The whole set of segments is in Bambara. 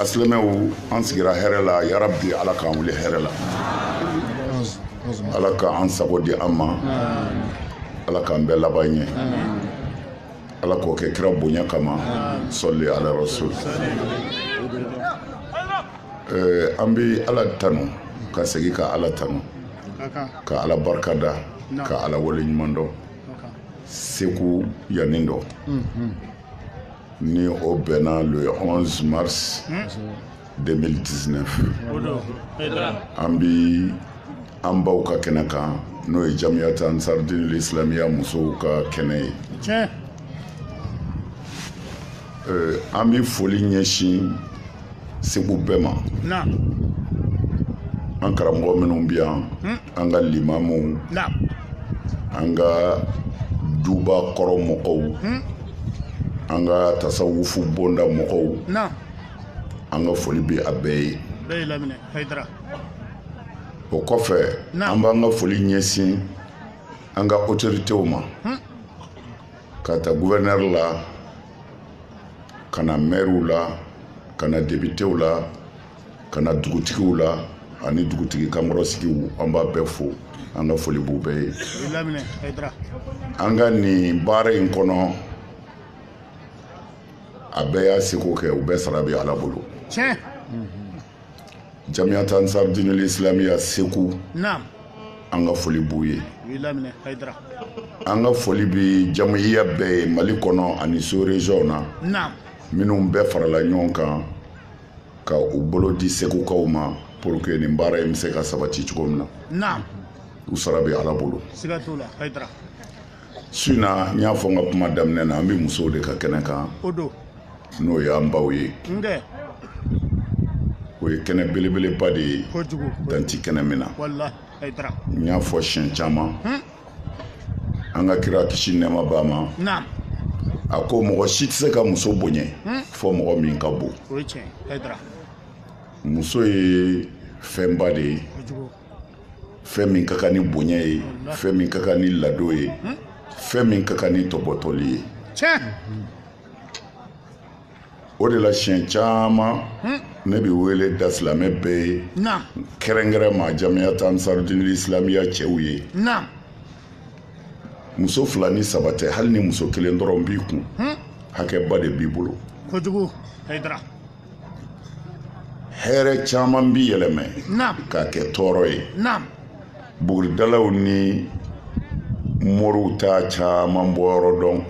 a silamɛw an sigira hɛrɛ la yarabi ala k'an wuli hɛrɛ la ala ka an sago di an ma ala k'an bɛɛ laban ɲɛ ala k'o kɛ kira bonya kama sɔli ala rasul eh, an bɛ ala tanu ka segin ka ala tanu ka ala barika da ka ala wale ɲuman dɔn segu yan nin don ni o bɛnna le 11 mars 2019 an bi an baw ka kɛnɛ kan n'o ye jamiyata ansar dinil islamiya musow ka kɛnɛ ye euh, an bi foli ɲɛsin segu bɛɛ ma an karamɔgɔ minnu bi yan hmm. an ka limamuw an ka duba kɔrɔ mɔgɔw hmm? an ka tasawufu bonda mɔgɔw an ka foli bɛ a bɛɛ ye o kɔfɛ an b'an ka foli ɲɛsin an ka otoritew ma hmm? ka ta guvɛrnɛri la ka na mɛriw la ka na depitew la ka na dugutigiw la ani dugutigi kankɔrɔsigiw an b'a bɛɛ fo an ka foli b'u bɛɛ ye an ka nin baara in kɔnɔ a bɛɛ y'a seko kɛ u bɛɛ sara bɛ ala bolo jamiyata ansar dinul islamiya segu an ka foli b'u ye an ka foli bi jamiya bɛɛ ye mali kɔnɔ ani sous région na minnu bɛɛ farala ɲɔgɔn kan ka u bolo di segukaw ma pour que nin baara in bɛ se ka sabati cogo min na u sara bɛ ala bolo su in na n y'a fɔ n ka kuma daminɛ na an bɛ musow de ka kɛnɛ kan n'o y'an baw ye o ye kɛnɛ belebeleba de ye dan ti kɛnɛ min na n y'a fɔ siɲɛ caman hmm? an ka kira kisi nɛɛma b'a ma a ko mɔgɔ si tɛ se ka muso bonya hmm? fo mɔgɔ min ka bon muso ye fɛnba de ye fɛn min ka kan ni bonya ye fɛn min ka kan ni ladon ye hmm? fɛn min ka kan ni tɔbɔtɔli ye o de la siɲɛ caman hmm. ne bɛ wele da silamɛ bɛɛ ye kɛrɛnkɛrɛn ma jamiyata ansar dinil islamiya cɛw ye muso fila ni saba tɛ hali ni muso kelen dɔrɔn b'i kun hmm. hakɛba de b'i bolo kojugu hayidara hɛrɛ caman bi yɛlɛmɛ k'a kɛ tɔɔrɔ ye buguridalaw ni moriw t'a caman bɔyɔrɔ dɔn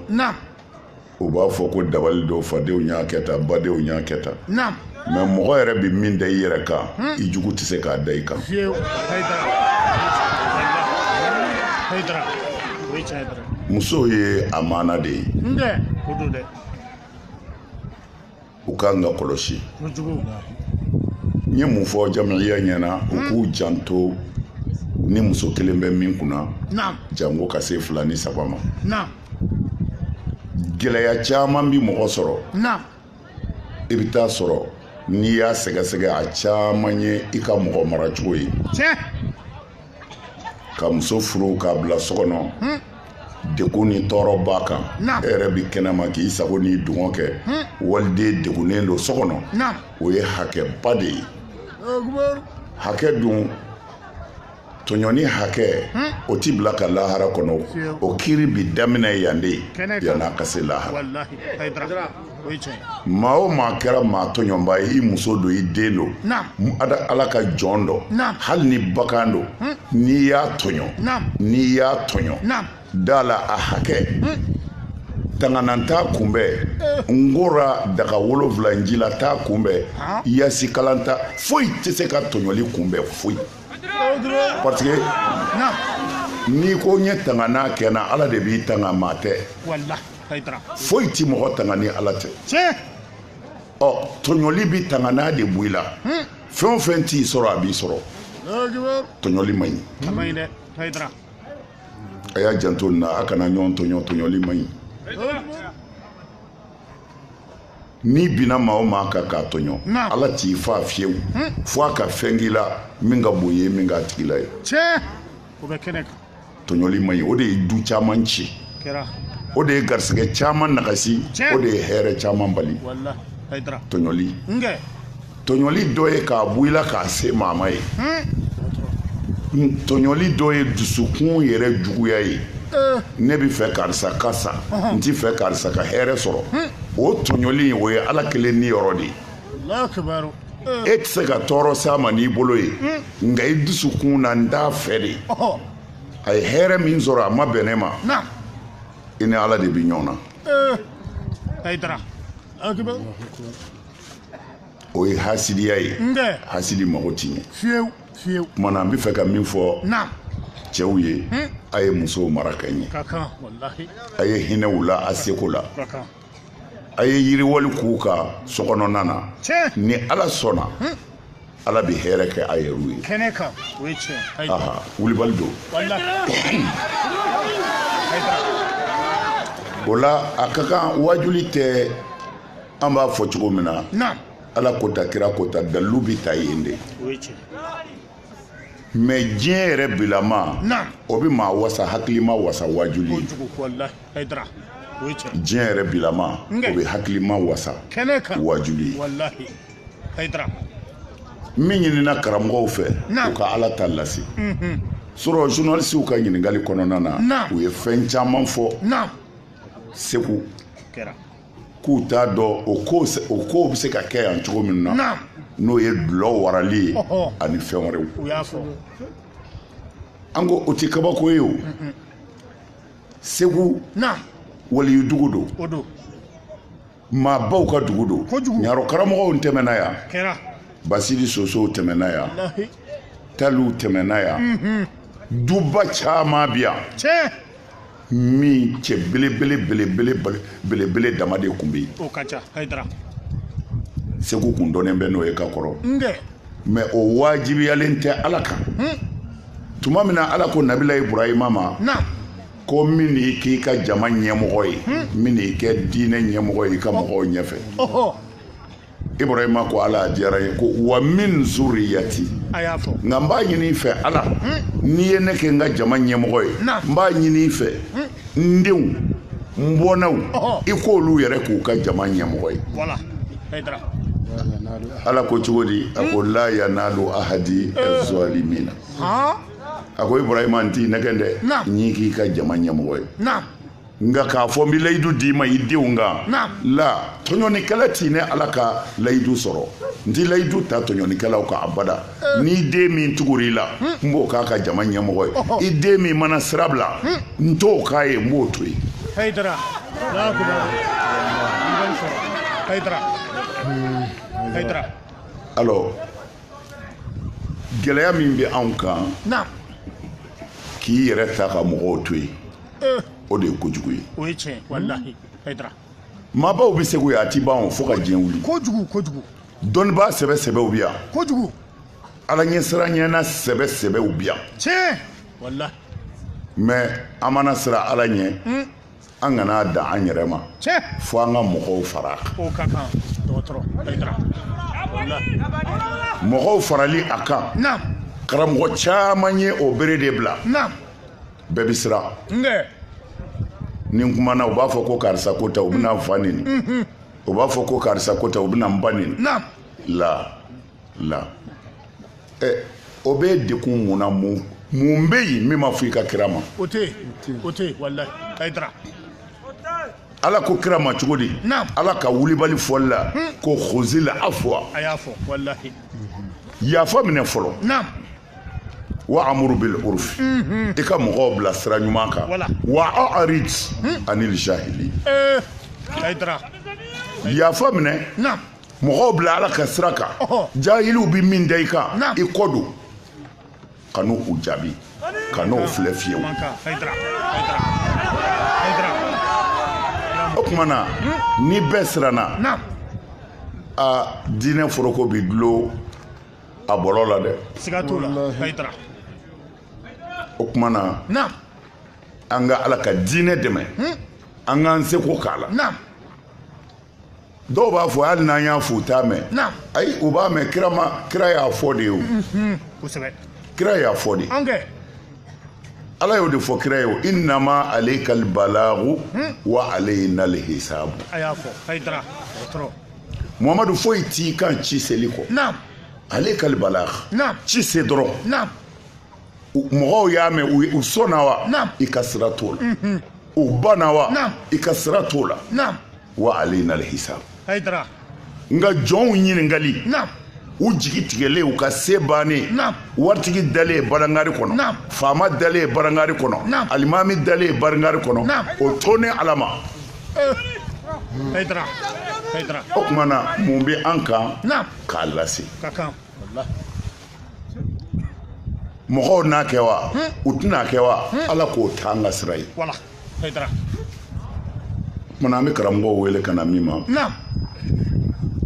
u b'a fɔ ko dabali don fadenw y'a kɛ tan badenw y'a kɛ tan mais mɔgɔ yɛrɛ bɛ min da i yɛrɛ kan hmm. i jugu tɛ se k'a da i kan musow ye amana de ye u ka kan ka kɔlɔsi n ye mun fɔ jamiya ɲɛna u k'u hmm. janto ni muso kelen bɛ min kunna janko ka se fila ni saba ma gɛlɛya caman bi mɔgɔ sɔrɔ i bɛ taa sɔrɔ n'i y'a sɛgɛsɛgɛ a caman ye i ka mɔgɔ maracogo ye ka muso furu k'a bila so kɔnɔ hmm. degun ni tɔɔrɔ b'a kan e yɛrɛ bɛ kɛnɛma k'i sago n'i dungɔ kɛ waliden degunnen don so kɔnɔ o ye hakɛba de ye hakɛ dun tɔɲɔni hakɛ o ti bila ka lahara kɔnɔ o kiri bi daminɛ yan de yan'a ka se lahara maa o maa kɛra maa tɔɲɔba ye i muso don i den don ala ka jɔn dɔ hali ni bagan don hmm. n'i y'a tɔɲɔ n'i y'a tɔɲɔ da la a hakɛ hmm. tanganan t'a kunbɛn eh. n kora daga wolonfila ji la t'a kunbɛn ah. yasi kalan t'a foyi tɛ se ka tɔɲɔli kunbɛn foyi parce que n'i ko n ye tanganan kɛ n na ala de b'i tanga maa tɛ foyi tɛ mɔgɔ tanga ni ala tɛ ɔ tɔɲɔli bɛ tanganan de bɔ i la hmm. fɛn o fɛn t'i sɔrɔ a b'i sɔrɔ tɔɲɔli man ɲi a y'a janto nin na a kana ɲɔgɔn tɔɲɔ tɔɲɔli man ɲi n'i binna maa o maa kan k'a tɔɲɔ ala t'i fa fiyewu hmm. fo a ka fɛn k'i la min ka bon ye min k'a tigi la ye o bɛ kɛnɛ kan tɔɲɔli man ɲi o de ye du caman ci o de ye garisɛgɛ caman nagasi o de ye hɛrɛ caman bali tɔɲɔli tɔɲɔli dɔ ye k'a bɔ i la k'a se maa ma ye tɔɲɔli dɔ ye dusukun yɛrɛ juguya ye ne bɛ fɛ karisa ka sa n tɛ fɛ karisa ka hɛrɛ sɔrɔ o tɔɲɔli o ye ala kelen niyɔrɔ de ye e tɛ se ka tɔɔrɔ s'a ma n'i bolo ye nka i dusukun na n t'a fɛ de a ye hɛrɛ min sɔrɔ a ma bɛn ne ma i ni ala de bɛ ɲɔgɔn na o ye hasidiya ye hasidi mago ti ɲɛ fiyewu fiyewu tuma na n bɛ fɛ ka min fɔ cɛw ye a ye musow mara ka ɲɛ a ye hinɛ u la a seko la a ye yiriwali k'u ka sokɔnɔna na ni ala sɔnna hmm. ala bɛ hɛrɛ kɛ a yɛrɛw ye kɛnɛ kan o ye tiɲɛ aha wulibali don o la a ka kan waajuli tɛ an b'a fɔ cogo min na ala ko tan kira ko tan dalilu bɛ ta yen de mais diɲɛ yɛrɛ bilama o bɛ maa wasa hakilima wasa wajuli ye diɲɛ yɛrɛ bilama o bɛ hakilima wasa wajuli ye min ɲinina karamɔgɔw fɛ u ka ala ta lase mhm. sɔrɔ journalisiw ka ɲininkali kɔnɔna na u ye fɛn caman fɔ segu k'u t'a dɔn o ko o kow bɛ se ka kɛ yan cogo min na n'o ye dulɔ warali ye ani fɛn wɛrɛw an ko o tɛ kabako ye o segu waliyudugu don maabaw ka dugu don ɲarɔ karamɔgɔw tɛmɛna yan basidi sosow tɛmɛna yan taliw tɛmɛna yan duba caman bɛ yan min cɛ belebele belebele belebele dama de kun bɛ yen o ka ca hayidara segu kun dɔnnen bɛ n'o ye ka kɔrɔ mais o wajibiyalen tɛ ala kan hmm. tuma min na ala ko nabila iburahima ma ko n bɛn'i k'i ka jama ɲɛmɔgɔ ye hmm. n bɛn'i kɛ diinɛ ɲɛmɔgɔ ye i ka mɔgɔw ɲɛfɛ ibrahima ko ala diyara a ye ko wa min zuriyati a y'a fɔ nka n b'a ɲini i fɛ ala n'i ye ne kɛ n ka jama ɲɛmɔgɔ ye Na. n b'a ɲini i fɛ n denw n bɔnnaw Ɔhɔ. i k'olu yɛrɛ k'u ka jama ɲɛmɔgɔ ye walahi hayidara ala ko cogo di a ko la yanalu ahadi zalimina han a ko ibrahima n t'i nɛgɛn dɛ Na. n y'i k'i ka jama ɲɛmɔgɔ ye na nka k'a fɔ n bɛ layidu d'i ma i denw kan la tɔɲɔnikɛla ti ne ala ka layidu sɔrɔ n tɛ layidu ta tɔɲɔnikɛlaw kan abada eh. n'i den min tugura i la hmm. n b'o k'a ka jama ɲɛmɔgɔ ye oh, oh. i den min mana sira bila hmm. n t'o k'a ye n b'o to yen. Hayidara Hayidara Hayidara. alors gɛlɛya min bɛ anw kan k'i yɛrɛ ta ka mɔgɔw to yen. eh. o de ye kojugu ye o ye tiɲɛ walahi hayidara maabaw bɛ segu yan a ti ban o fo ka diɲɛ wuli kojugu kojugu dɔnnibaa sɛbɛ sɛbɛw bɛ yan kojugu ala ɲɛsiranɲɛna sɛbɛ sɛbɛw bi yan tiɲɛ walahi mais an mana siran ala ɲɛ hmm. an kana dan an yɛrɛ ma fo an ka mɔgɔw fara o ka kan dɔgɔtɔrɔ mɔgɔw farali a kan karamɔgɔ caman ye o bere de bila bɛɛ bɛ siran ni n kumana u b'a fɔ ko karisa ko tɛ u bɛna n fa neni mm-hmm. u b'a fɔ ko karisa ko tɛ u bɛna n ba neni la la ɛ eh, o b'e degun mun na mun mun bɛ yen min ma fɔ i ka kira ma o tɛ yen o tɛ yen walayi Hayidara ala ko kira ma cogo di ala ka wulibali fɔli la hmm. ko khuzil afwa a y'a fɔ walahi yafa minɛ fɔlɔ wa amuru bil urfi mhm. i ka mɔgɔw bila sira ɲuman kan wa a'rid hmm. anil jahili eh, yafa minɛ mɔgɔw bila ala ka sira kan jahiliw bi min da i kan i kɔ don kana u jaabi kan'u filɛ fiyewu o tuma na hmm. ni bɛɛ siranna aa diinɛ foroko bi dulo a bɔlɔ la dɛ siga t'o la Hayidara o tuma na naam an ka ala ka diinɛ dɛmɛ hmm? an k'an seko k'a la naam dɔw b'a fɔ hali n'an y'a fɔ u t'a mɛn naam ayi u b'a mɛn kira ma kira y'a fɔ de ye o hmm, hmm, kosɛbɛ kira y'a fɔ de an kɛ ala y'o de fɔ kira ye o innama alaykal balagu wa alayna alhisabu a y'a fɔ Hayidara dɔgɔtɔrɔ Muhamadu foyi t'i kan ci seli kɔ alaykal balag ci se dɔrɔn mɔgɔw y'a mɛn u sɔnna wa i ka sira t'o la mhm. u banna wa i ka sira t'o la wa alayna alhisab nka jɔnw ɲininkali u jigi tigɛlen u ka se bannen waritigi dalen barangari kɔnɔ faama dalen barangari kɔnɔ alimami dalen barangari kɔnɔ o to ne ala ma o tuma na mun bɛ an kan k'a lase mɔgɔw n'a kɛ wa u tɛna kɛ wa ala k'o t'an ka sira ye Munna an bɛ karamɔgɔw wele ka na min ma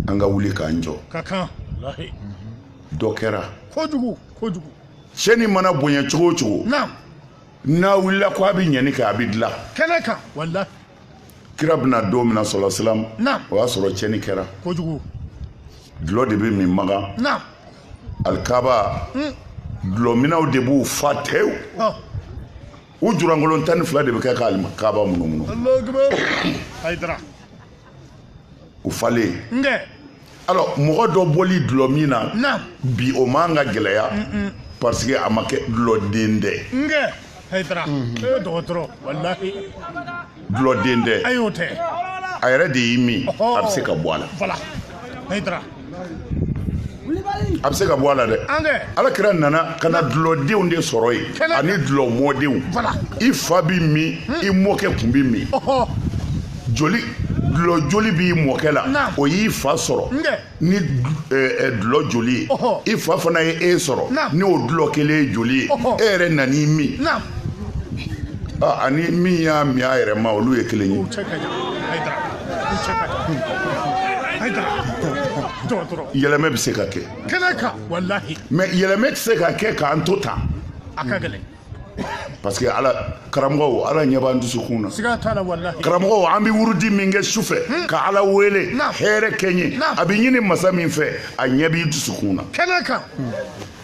an ka wuli k'an jɔ dɔ kɛra kojugu cɛni mana bonya cogo o cogo n'a wulila ko a bɛ ɲɛni kɛ a bɛ dilan kɛnɛ kan walahi kira bɛna don min na sala salam o y'a sɔrɔ cɛni kɛra kojugu dulɔ de bɛ min Makan alikaba dulɔminnaw de b'u fa tewu u julankolon tan ni fila de bɛ kɛ ka alikaba munumunu u falen alors mɔgɔ dɔ bɔli dulɔmin na bi o man ka gɛlɛya parce que a ma kɛ dulɔ den dɛ dulɔden tɛ a y'o tɛ a yɛrɛ de y'i min a bɛ se ka bɔ a la walahi hayidara a bɛ se ka bɔ a la dɛ ala kira nana ka na dulɔdenw de sɔrɔ yen ani dulɔ mɔdenw i fa b'i min hmm. i mɔkɛ kun b'i min joli dulɔ joli b'i mɔkɛ la o y'i fa sɔrɔ ni dulɔ joli ye i fa fana ye e sɔrɔ ni o dulɔ kelen ye joli ye e yɛrɛ nan'i min ani min y'a min a yɛrɛ ma olu ye kelen ye yɛlɛmɛ bɛ se ka kɛ mais yɛlɛmɛ tɛ se ka kɛ k'an to tan parce que ala karamɔgɔw ala ɲɛ b'an dusukun na karamɔgɔw an bɛ wurudi min kɛ su fɛ hmm. ka ala wele hɛrɛ kɛ n ye a bɛ ɲini masa min fɛ a ɲɛ b'i dusukun na kɛnɛ kan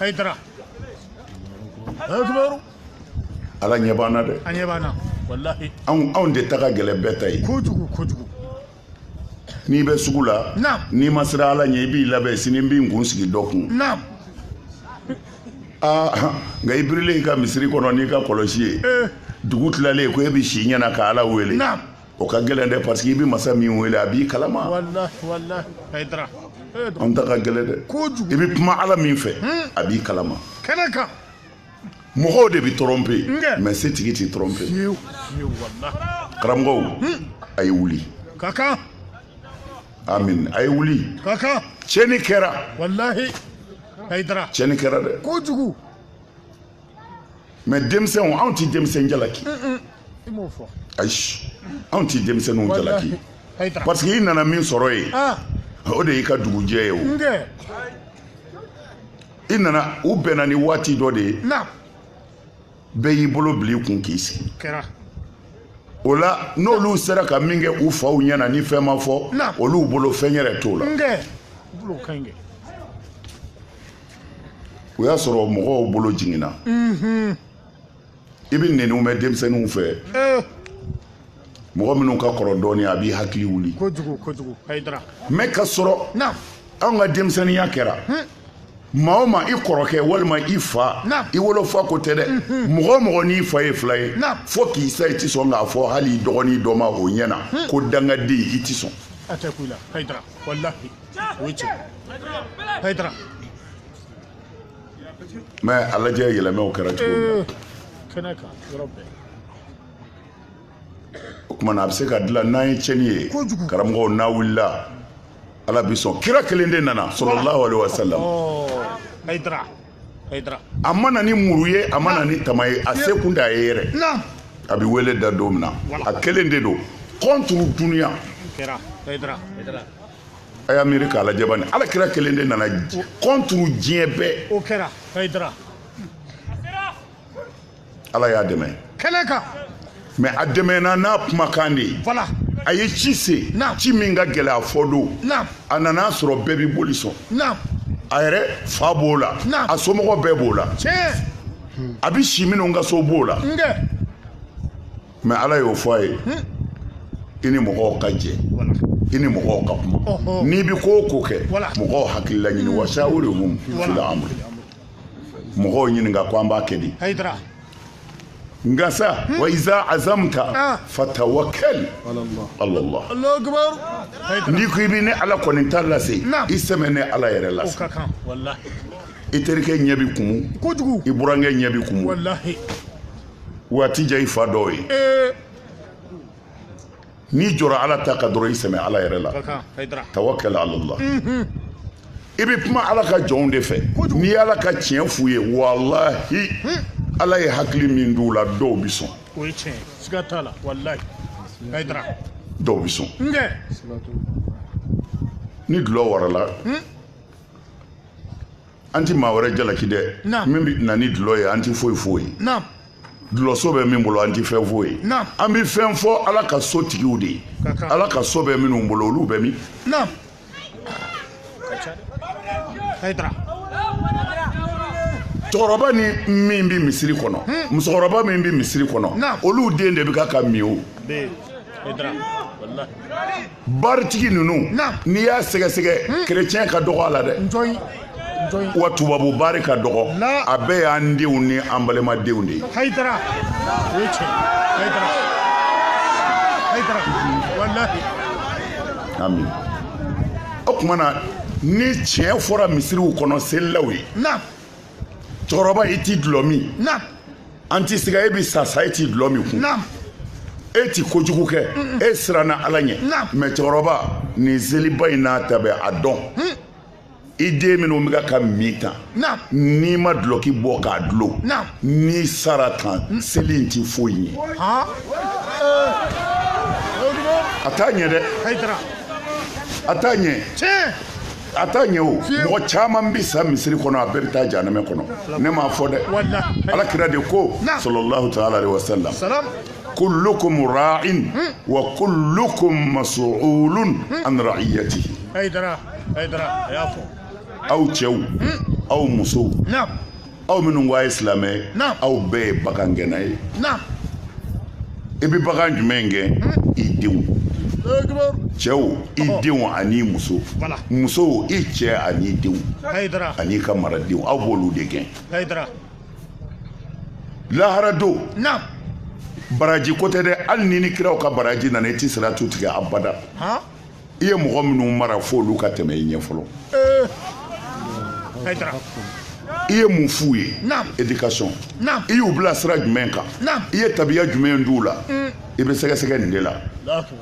hayidara ala ɲɛ b'an na dɛ anw de ta ka gɛlɛn bɛɛ ta ye kojugu kojugu n'i bɛ sugu la n'i ma siran ala ɲɛ i b'i labɛn sini n bɛ n kun sigi dɔ kun nka i birilen i ka misiri kɔnɔ n'i ka kɔlɔsi ye eh. dugu tilalen ko e bɛ si ɲɛna ka ala wele o ka gɛlɛn dɛ parce que i bɛ masa min wele a b'i kalama eh, an ta ka gɛlɛn dɛ i bɛ kuma ala min fɛ hmm. a b'i kalama mɔgɔw de bɛ tromper mais setigi tɛ tromper karamɔgɔw hmm. a ye wuli ka kan amin a ye wuli ka kan tiɲɛni kɛra walahi hayidara tiɲɛni kɛra dɛ kojugu mais denmisɛnw anw tɛ denmisɛn jalaki ayi anw tɛ denmisɛnninw jalaki parce que i nana min sɔrɔ yen ah. o de y'i ka dugujɛ ye o i nana u bɛnna ni waati dɔ de ye bɛɛ y'i bolo bila i kun k'i sigi o la n'olu sera ka min kɛ u faw ɲɛna ni fɛn ma fɔ olu bolo fɛn yɛrɛ t'o la o y'a sɔrɔ mɔgɔw bolo jiginna i bɛ nɛniw mɛn denmisɛnninw fɛ eh. mɔgɔ minnu ka kɔrɔ dɔɔnin a b'i hakili wuli kojugu kojugu hayidara mais k'a sɔrɔ anw ka denmisɛnninya kɛra maa o maa i kɔrɔkɛ walima i fa i wolofa ko tɛ dɛ mɔgɔ o mɔgɔ n'i fa ye filan ye fo k'i sa i tɛ sɔn k'a fɔ hali i dɔgɔnin dɔ ma o ɲɛ na ko dangaden i tɛ sɔn a tɛ kun i la hayidara walahi o ye tiɲɛ hayidara mɛ a lajɛ yɛlɛmɛw kɛra cogo min na kɛnɛ kan yɔrɔ bɛɛ o tuma na a bɛ se ka dilan n'an ye tiɲɛni ye karamɔgɔw n'a wulila ala bi sɔn kira kelen de nana sallallahu alaihi wasallam hayidara hayidara a ma na ni muru ye a ma na ni tama ye a se kun t'a ye yɛrɛ a bɛ wele da don min na a kelen de don contre dunuya kɛra hayidara hayidara a y'a miiri k'a lajɛ bani ala kira kelen de nana contre diɲɛ bɛɛ o kɛra hayidara ala y'a dɛmɛ kɛnɛ kan mɛ a dɛmɛna n'a kumakan de ye voilà a ye ci se ci min ka gɛlɛ a fɔ don a nana a sɔrɔ bɛɛ bɛ boli sɔn a yɛrɛ fa b'o la a somɔgɔ bɛɛ b'o la a bɛ si minnu ka so b'o la mɛ ala y'o fɔ a ye i ni mɔgɔw ka jɛ i ni mɔgɔw ka kuma n'i bɛ ko o ko kɛ mɔgɔw hakilila ɲini wa shawirhum fil amri mɔgɔw ɲininka ko an b'a kɛ di nka sa wa iza azamta fatawakkal ala Allah n'i ko i bɛ ne ala kɔni ta lase i sɛmɛ ne ala yɛrɛ lase i terikɛ ɲɛ bɛ kumu i burankɛ ɲɛ bɛ kumu waati jɛ i fa dɔw ye n'i jɔra ala ta kan dɔrɔn i sɛmɛ ala yɛrɛ la tawakkal ala Allah i bɛ kuma ala ka jɔnw de fɛ n'i ye ala ka tiɲɛ f'u ye walahi ala ye hakili min d'u la dɔw bɛ sɔn dɔw bɛ sɔn ni dulɔ warala an tɛ maa wɛrɛ jalaki dɛ min bɛ na ni dulɔ ye an tɛ foyi f'o ye dulɔso bɛ min bolo an tɛ fɛn f'o ye an bɛ fɛn fɔ ala ka so tigiw de ye ala ka so bɛ minnu bolo olu bɛ min cɛkɔrɔba ni min bɛ misiri kɔnɔ hmm. musokɔrɔba min bɛ misiri kɔnɔ olu den de bɛ ka k'a min o baritigi ninnu n'i y'a sɛgɛsɛgɛ kerecɛn hmm. ka dɔgɔ a la dɛ wa tubabu baari ka dɔgɔ a bɛɛ y'an denw ni an balimadenw de ye ami o tuma na ni tiɲɛ fɔra misiriw kɔnɔ selilaw ye cɛkɔrɔba i ti dulɔ min an ti siga e bɛ sa sa e ti dulɔ min kun e ti kojugu kɛ e siranna ala ɲɛ mɛ cɛkɔrɔba nin seliba in n'a ta bɛɛ a dɔn hmm. i den minnu bɛ k'a min tan n'i ma dulɔki bɔ k'a dulon n'i sara tan hmm. seli in ti foyi ɲɛ a t'a ɲɛ dɛ a t'a ɲɛ a t'a ɲɛ o mɔgɔ caman bi sa misiri kɔnɔ a bɛɛ bɛ taa janɛmɛ kɔnɔ ne m'a fɔ dɛ ala kira de ko sallallahu taala alaihi wasallam kullukum ra'in wa kullukum mas'ulun an ra'iyatihi aw cɛw aw musow aw minnu ko a ye silamɛ ye aw bɛɛ ye bagangɛnna ye i bɛ bagan jumɛn gɛn i denw cɛw i denw ani muso musow i cɛ ani denw an'i ka maradenw aw b'olu de gɛn lahara don baraji ko tɛ dɛ hali n'i ni kiraw ka baraji nana i tɛ siratu tigɛ abada i ye mɔgɔ minnu mara fo olu ka tɛmɛ i ɲɛ fɔlɔ i ye mun f'u ye éducation i y'u bila sira jumɛn kan i ye tabiya jumɛn d'u la mm. i bɛ sɛgɛsɛgɛ nin de la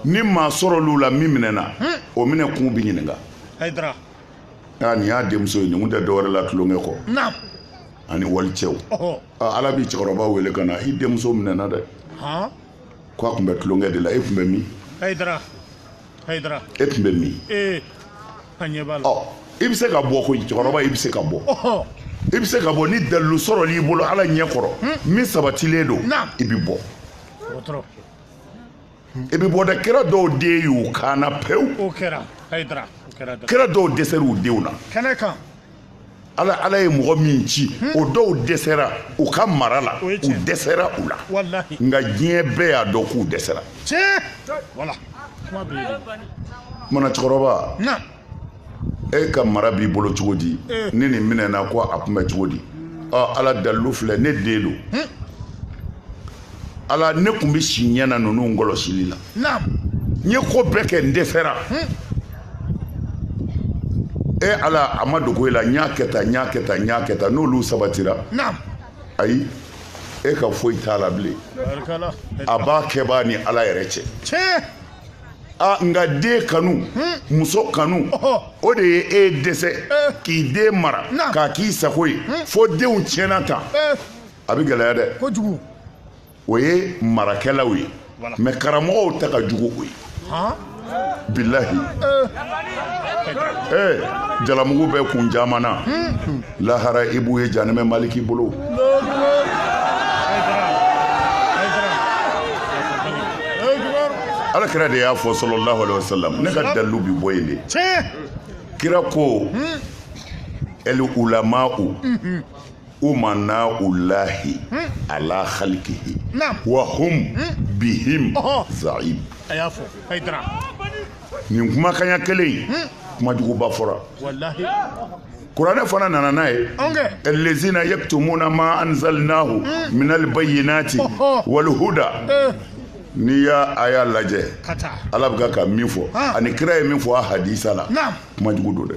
ni maa sɔrɔl'u la min minɛna mm. o minɛ kun bɛ ɲininka aa nin y'a denmuso ye nin tun tɛ dɔwɛrɛ la tulonkɛ kɔ ani walicɛw ala b'i cɛkɔrɔba wele ka na i denmuso minɛna dɛ Ko a tun bɛ tulonkɛ de la e tun bɛ min Hayidara Hayidara e tun bɛ min ee an ɲɛ b'a la ɔ i bɛ se ka bɔ koyi cɛkɔrɔba i bɛ se ka bɔ ɔhɔ i bɛ se ka bɔ ni dalilu sɔrɔl'i bolo Ala ɲɛ kɔrɔ min sabatilen don Naam. i bɛ bɔ dɔgɔtɔrɔ i bɛ bɔ dɛ kira dɔw den y'u kaana pewu o kɛra Hayidara o kɛra dɔrɔn kira dɔw dɛsɛr'u denw na kɛnɛ kan ala ala ye mɔgɔ min ci o dɔw dɛsɛra u ka mara la u dɛsɛra u la nka diɲɛ bɛɛ y'a dɔn k'u dɛsɛra mana cɛkɔrɔba e ka mara b'i bolo cogo di eh. ni nin minɛna ko a kun bɛ cogo di ala dalilu filɛ ne den don ala ne kun bɛ si ɲɛna ninnu kɔlɔsili la n ye ko bɛɛ kɛ n dɛsɛra e ala a ma dogo i la n y'a kɛ tan n y'a kɛ tan n y'a kɛ tan n'olu sabatira ayi e ka foyi t'a la bilen a b'a kɛbaa ni ala yɛrɛ cɛ a nka den kanu muso kanu o de ye e dɛsɛ k'i den mara k'a k'i sago ye fo denw tiɲɛna tan a bɛ gɛlɛya dɛ kojugu o ye marakɛlaw ye mais karamɔgɔw ta ka jugu o ye bilahi ee jalamugu bɛ kun caman na hmm. lahara i b'u ye janɛmɛ maliki bolo ala kira de y'a fɔ sallallahu alaihi wasallam ne ka dalilu bi bɔ yen de kira ko hmm. el ulama'u hmm. umana ullahi ala khalqihi wa hum bihim za'im a y'a fɔ Haidara nin kumakanya kelen in kuma juguba fɔra kuranɛ fana nana n'a ye allazina yaktumuna ma anzalnahu minal bayyinati wal huda eh. n'i y'a a y'a lajɛ ala bɛ ka ka min fɔ ani kira ye min fɔ a hadisa la kuma jugu don dɛ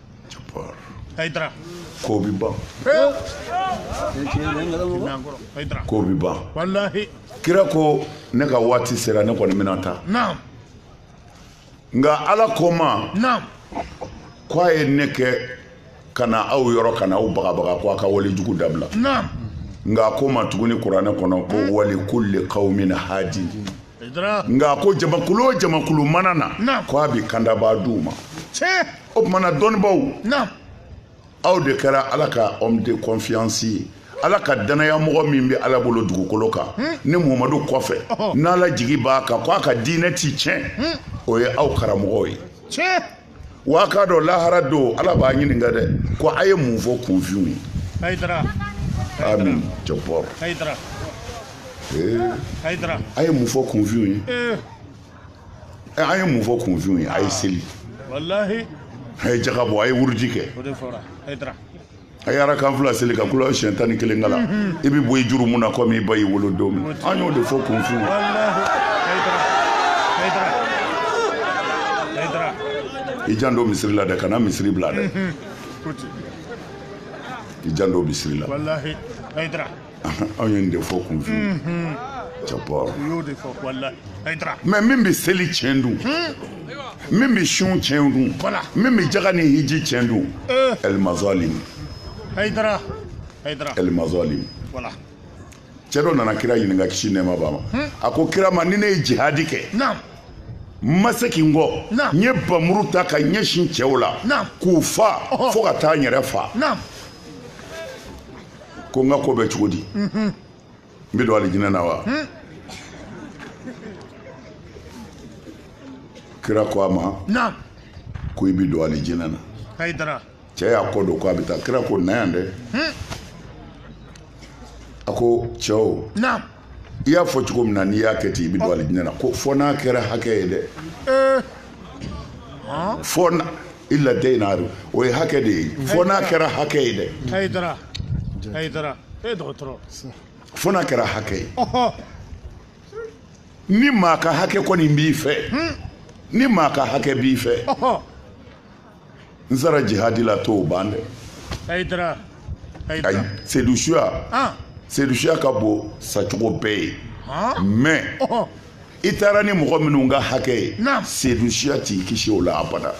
Jabbar. Haidara. Ko bi ban. Ko bi ban. Walahi. Kira ko ne ka waati sera ne kɔni bɛna taa. Naam. Nka Ala ko ma. Naam. Ko a ye ne kɛ ka na aw yɔrɔ ka na aw bagabaga ko a ka wale jugu dabila. Naam. Nka a ko ma tuguni kuranɛ kɔnɔ ko hmm. wali kulli qawmin hadi. Nka a ko jamakulu o jamakulu mana na. Naam. Ko a bɛ kandabaa d'u ma. Tiɲɛ. o tumana dɔnnibaw aw de kɛra ala ka homme de confiance ye ala ka danaya mɔgɔ min bɛ ala bolo dugukolo kan hmm. ni muhamadu kɔfɛ oh. n'ala jigi b'a kan ko a ka diinɛ ti tiɲɛ hmm. o ye aw karamɔgɔw ye wa k'a dɔn lahara don ala b'a ɲininka dɛ ko a ye mun fɔ kunfinw ye amin jabbar a ye mun fɔ kunfinw ye ɛ an ye mun fɔ kunfinw ye a ye seli walahi a ye jaga bɔ a ye wuruji kɛ o de fɔra Haidara a ye arakan fila seli ka kula siɲɛ tan ni kelen kalan i bɛ bɔ i jurumu na komi i ba y'i wolo don min an y'o de fɔ kunfinw ye walahi Haidara Haidara Haidara i janto misiri la dɛ kana misiri bila dɛ ko ten i janto misiri la walahi Haidara anw ye nin de fɔ kunfinw mm-hmm. jabbar mɛ min bɛ seli tiɲɛ dun hmm. min bɛ sun tiɲɛ dun min bɛ jaga ni hiji tiɲɛ dun el mazalim el mazalim cɛ dɔ nana kira ɲininka kisi nɛɛma b'a ma hmm. a ko kira ma ni ne ye jihadi kɛ n ma segin kɔ n ye bamuru ta ka ɲɛsin cɛw la k'u fa fo ka taa n yɛrɛ fa ko n ka ko bɛ cogo di n bɛ don alijinɛ na wa kira ko a ma ko i bɛ don alijinɛ na cɛ y'a kɔ don ko a bɛ taa kira ko na yan dɛ a ko cɛw i y'a fɔ cogo min na n'i y'a kɛ ten i bɛ don alijinɛ na ko fɔ n'a kɛra hakɛ ye dɛ eh. fɔ illa dayna o ye hakɛ de ye fɔ n'a kɛra hakɛ ye dɛ fɔ n'a kɛra hakɛ ye ni maa ka hakɛ kɔni b'i fɛ hmm. ni maa ka hakɛ b'i fɛ n sara jihadi la t'o ban dɛ hayidara hayidara sedu suya ah. sedu suya ka bon sacogo bɛɛ ye ah. mais oh. i taara ni mɔgɔ minnu ka hakɛ ye sedu suya t'i kisi o la abada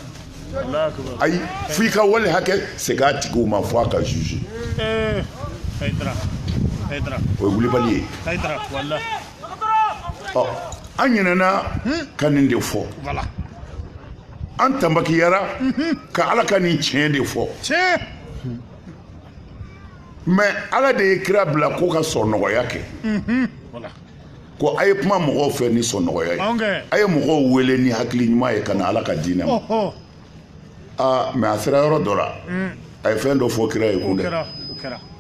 ayi fo i ka wale hakɛ segin a tigiw ma fo a ka juge eh, o ye wulibali ye ɔ an ɲinɛna hmm? ka nin de fɔ an tanbakiyara ka ala ka nin tiɲɛ de fɔ mais ala de ye kira bila ko ka sɔn nɔgɔya kɛ ko a ye kuma mɔgɔw fɛ ni sɔn nɔgɔya ye a ye mɔgɔw wele ni hakili ɲuman ye ka na ala ka diinɛ ma aa mais a sera yɔrɔ dɔ la a ye fɛn dɔ fɔ kira ye kun dɛ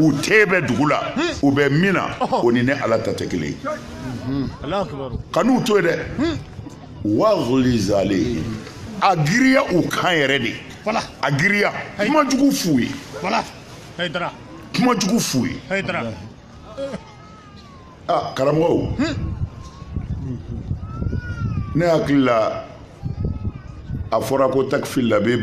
u tɛ bɛ dugu la u bɛ min na o ni ne ala ta tɛ kelen kan'u to yen dɛ waguluzu alayihim a giriya u kan yɛrɛ de a giriya kuma jugu f'u ye kuma jugu f'u ye aa karamɔgɔ ne hakili la a fɔra ko takifili la bɛ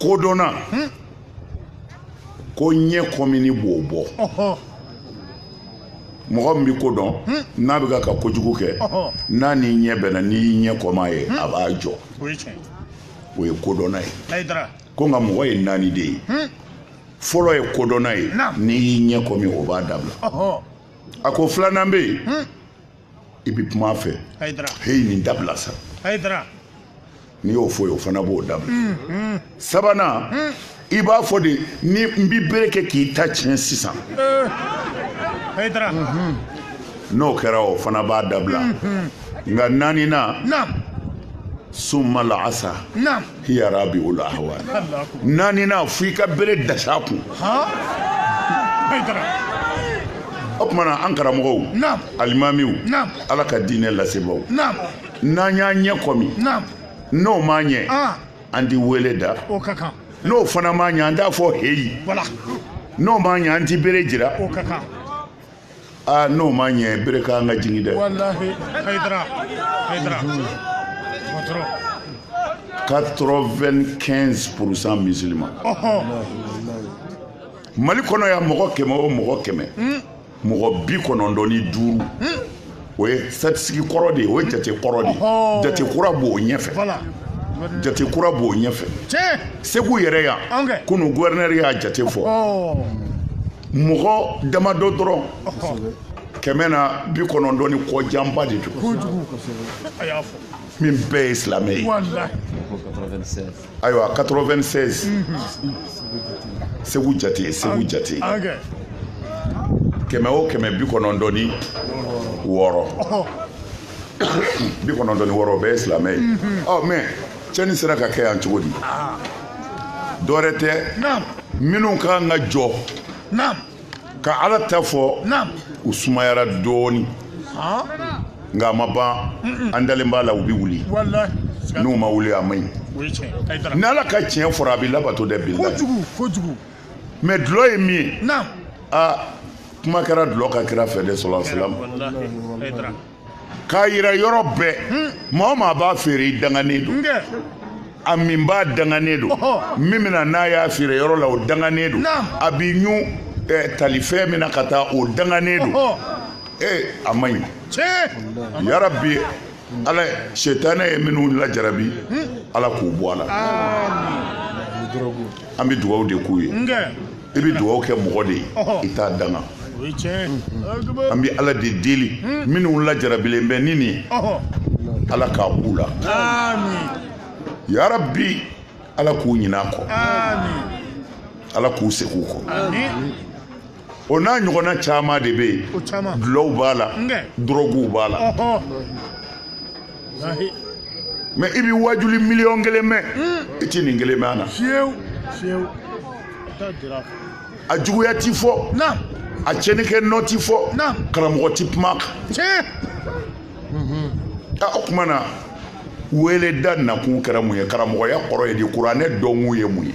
kodɔnna hmm? ko ɲɛ kɔmini b'o bɔ mɔgɔ min bɛ ko dɔn hmm? n'a bɛ ka ka kojugu kɛ n'a n'i ɲɛ bɛnna n'i y'i ɲɛ kɔm'a ye hmm? a b'a jɔ o ye kodɔnna ye ko nka mɔgɔ ye naani de ye fɔlɔ ye kodɔnna ye n'i y'i ɲɛ kɔmi o b'a dabila a ko filanan bɛ yen i bɛ kuma a fɛ heyi nin dabila sa n'i y'o f'o ye o fana b'o dabila mm, mm. sabanan mm. i b'a fɔ de ni n bɛ bere kɛ k'i ta tiɲɛ sisan eh. mm-hmm. n'o kɛra o fana b'a dabila mm-hmm. nka naaninan summa l'asa hiya rabi'ul ahwal naaninan fo i ka bere dasa kun o tuma na an karamɔgɔw alimamiw ala ka diinɛ lasebaaw n'an y'an ɲɛ kɔmi n'o m'a ɲɛ an ti wele da n'o fana m'a ɲɛ an t'a fɔ heyi n'o m'a ɲɛ an ti bere jira aa ah, n'o m'a ɲɛ bere kan ka jigin dɛ walahi hayidara hayidara 95 pourcent musulman mali kɔnɔ yan mɔgɔ kɛmɛ o mɔgɔ kɛmɛ hmm. mɔgɔ bi kɔnɔntɔn ni duuru hmm. o ye statistique kɔrɔ de ye o ye jate kɔrɔ de ye jate kura b'o ɲɛfɛ jate kura b'o ɲɛfɛ segu yɛrɛ yan kunu guvɛrinɛri y'a jate fɔ mɔgɔ damadɔ dɔrɔn kɛmɛ na bi kɔnɔntɔn ni kɔ janba de don min bɛɛ ye silamɛ ye ayiwa 96 segu jate segu jate kɛmɛ o kɛmɛ bi kɔnɔntɔn ni wɔɔrɔ bi kɔnɔntɔn ni wɔɔrɔ o bɛɛ ye silamɛ ye ɔ mɛ cɛni sera ka kɛ yan cogo di dɔwɛrɛ tɛ minnu ka kan ka jɔ ka ala ta fɔ u sumayara dɔɔni nka a ma ban an dalen b'a la u bɛ wuli n'u ma wuli a man ɲi ni ala ka tiɲɛ fɔra a bɛ labato dɛ bilahi mɛ dulɔ ye min ye aa kuma kɛra dulɔ ka kira fɛ de sallallahu alaihi k'a yira yɔrɔ bɛɛ maa o maa b'a feere i danganen don a minbaa danganen don min bɛ na n'a y'a feere yɔrɔ la o danganen don a bi ɲun eh, talifɛn min na ka taa o danganen don ee a man ɲi yarabi ala sitanɛ ye minnu lajarabi ala k'u bɔ a la an bɛ dugawu de k'u ye i bɛ dugawu kɛ mɔgɔ de ye i t'a danga an bɛ ala de deli minnu lajarabilen bɛ ni nin ye ala k'a b'u la yarabi ala k'u ɲin'a kɔ ala k'u segin u kɔ o n'a ɲɔgɔnna caman de bɛ yen dulɔw b'a la dɔrɔguw b'a la mɛ i bɛ wajuli miliyɔn kelen mɛn i tɛ nin kelen mɛn a na a juguya ti fɔ a cɛnikɛ nɔ ti fɔ karamɔgɔ ti kuma kan o tuma na weleda nakun kɛra mun ye karamɔgɔya kɔrɔ ye di kuranɛ dɔnkun ye mun ye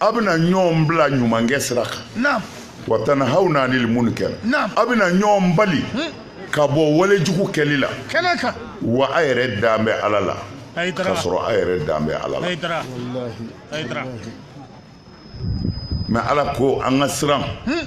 a bɛna ɲɔgɔn bila ɲumankɛ sira kan wa tanhawna anil munkar a bɛna ɲɔgɔn bali hmm. ka bɔ wale jugu kɛli la wa a yɛrɛ dan bɛ ala la ka sɔrɔ a yɛrɛ dan bɛ ala la mɛ ala ko an ka siran hmm.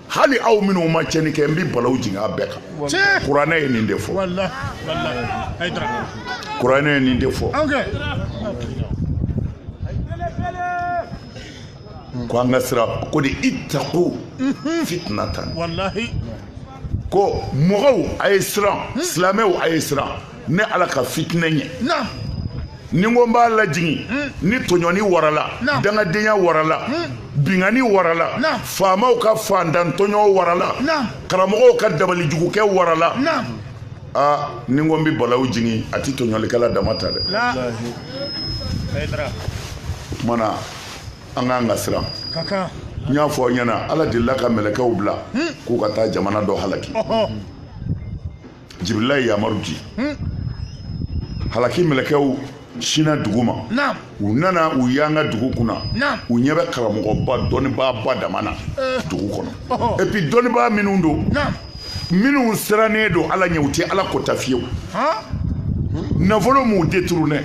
hali aw minnu ma cɛni kɛ n bɛ balawu jigin a bɛɛ kan kuranɛ ye nin de fɔ kuranɛ ye nin de fɔ ko an ka siran ko de ittaqu mhm. fitnatan ko mɔgɔw a ye siran mhm. silamɛw a ye siran ne ala ka fitinɛ ɲɛ ni n ko n b'a lajigin hmm. ni tɔɲɔni warala dangadenya warala hmm. binkanni warala faamaw ka faantantɔɲɔ warala karamɔgɔw ka dabalijugukɛ warala aa ni n ko n bɛ balawu jigin a tɛ tɔɲɔlikɛla dama ta dɛ o kama an ka kan ka siran n y'a fɔ aw ɲɛna ala delila ka mɛlɛkɛw bila hmm. k'u ka taa jamana dɔ halaki jibirila ye yamaru di hmm. halaki mɛlɛkɛw sinna dugu ma u nana u yanga dugu kunna u ɲɛ bɛ karamɔgɔba dɔnnibaaba dama na eh. dugu kɔnɔ epi dɔnnibaa minnu don minnu sirannen don ala ɲɛ u tɛ ala kota fiyewu nafolo m'u deturunɛ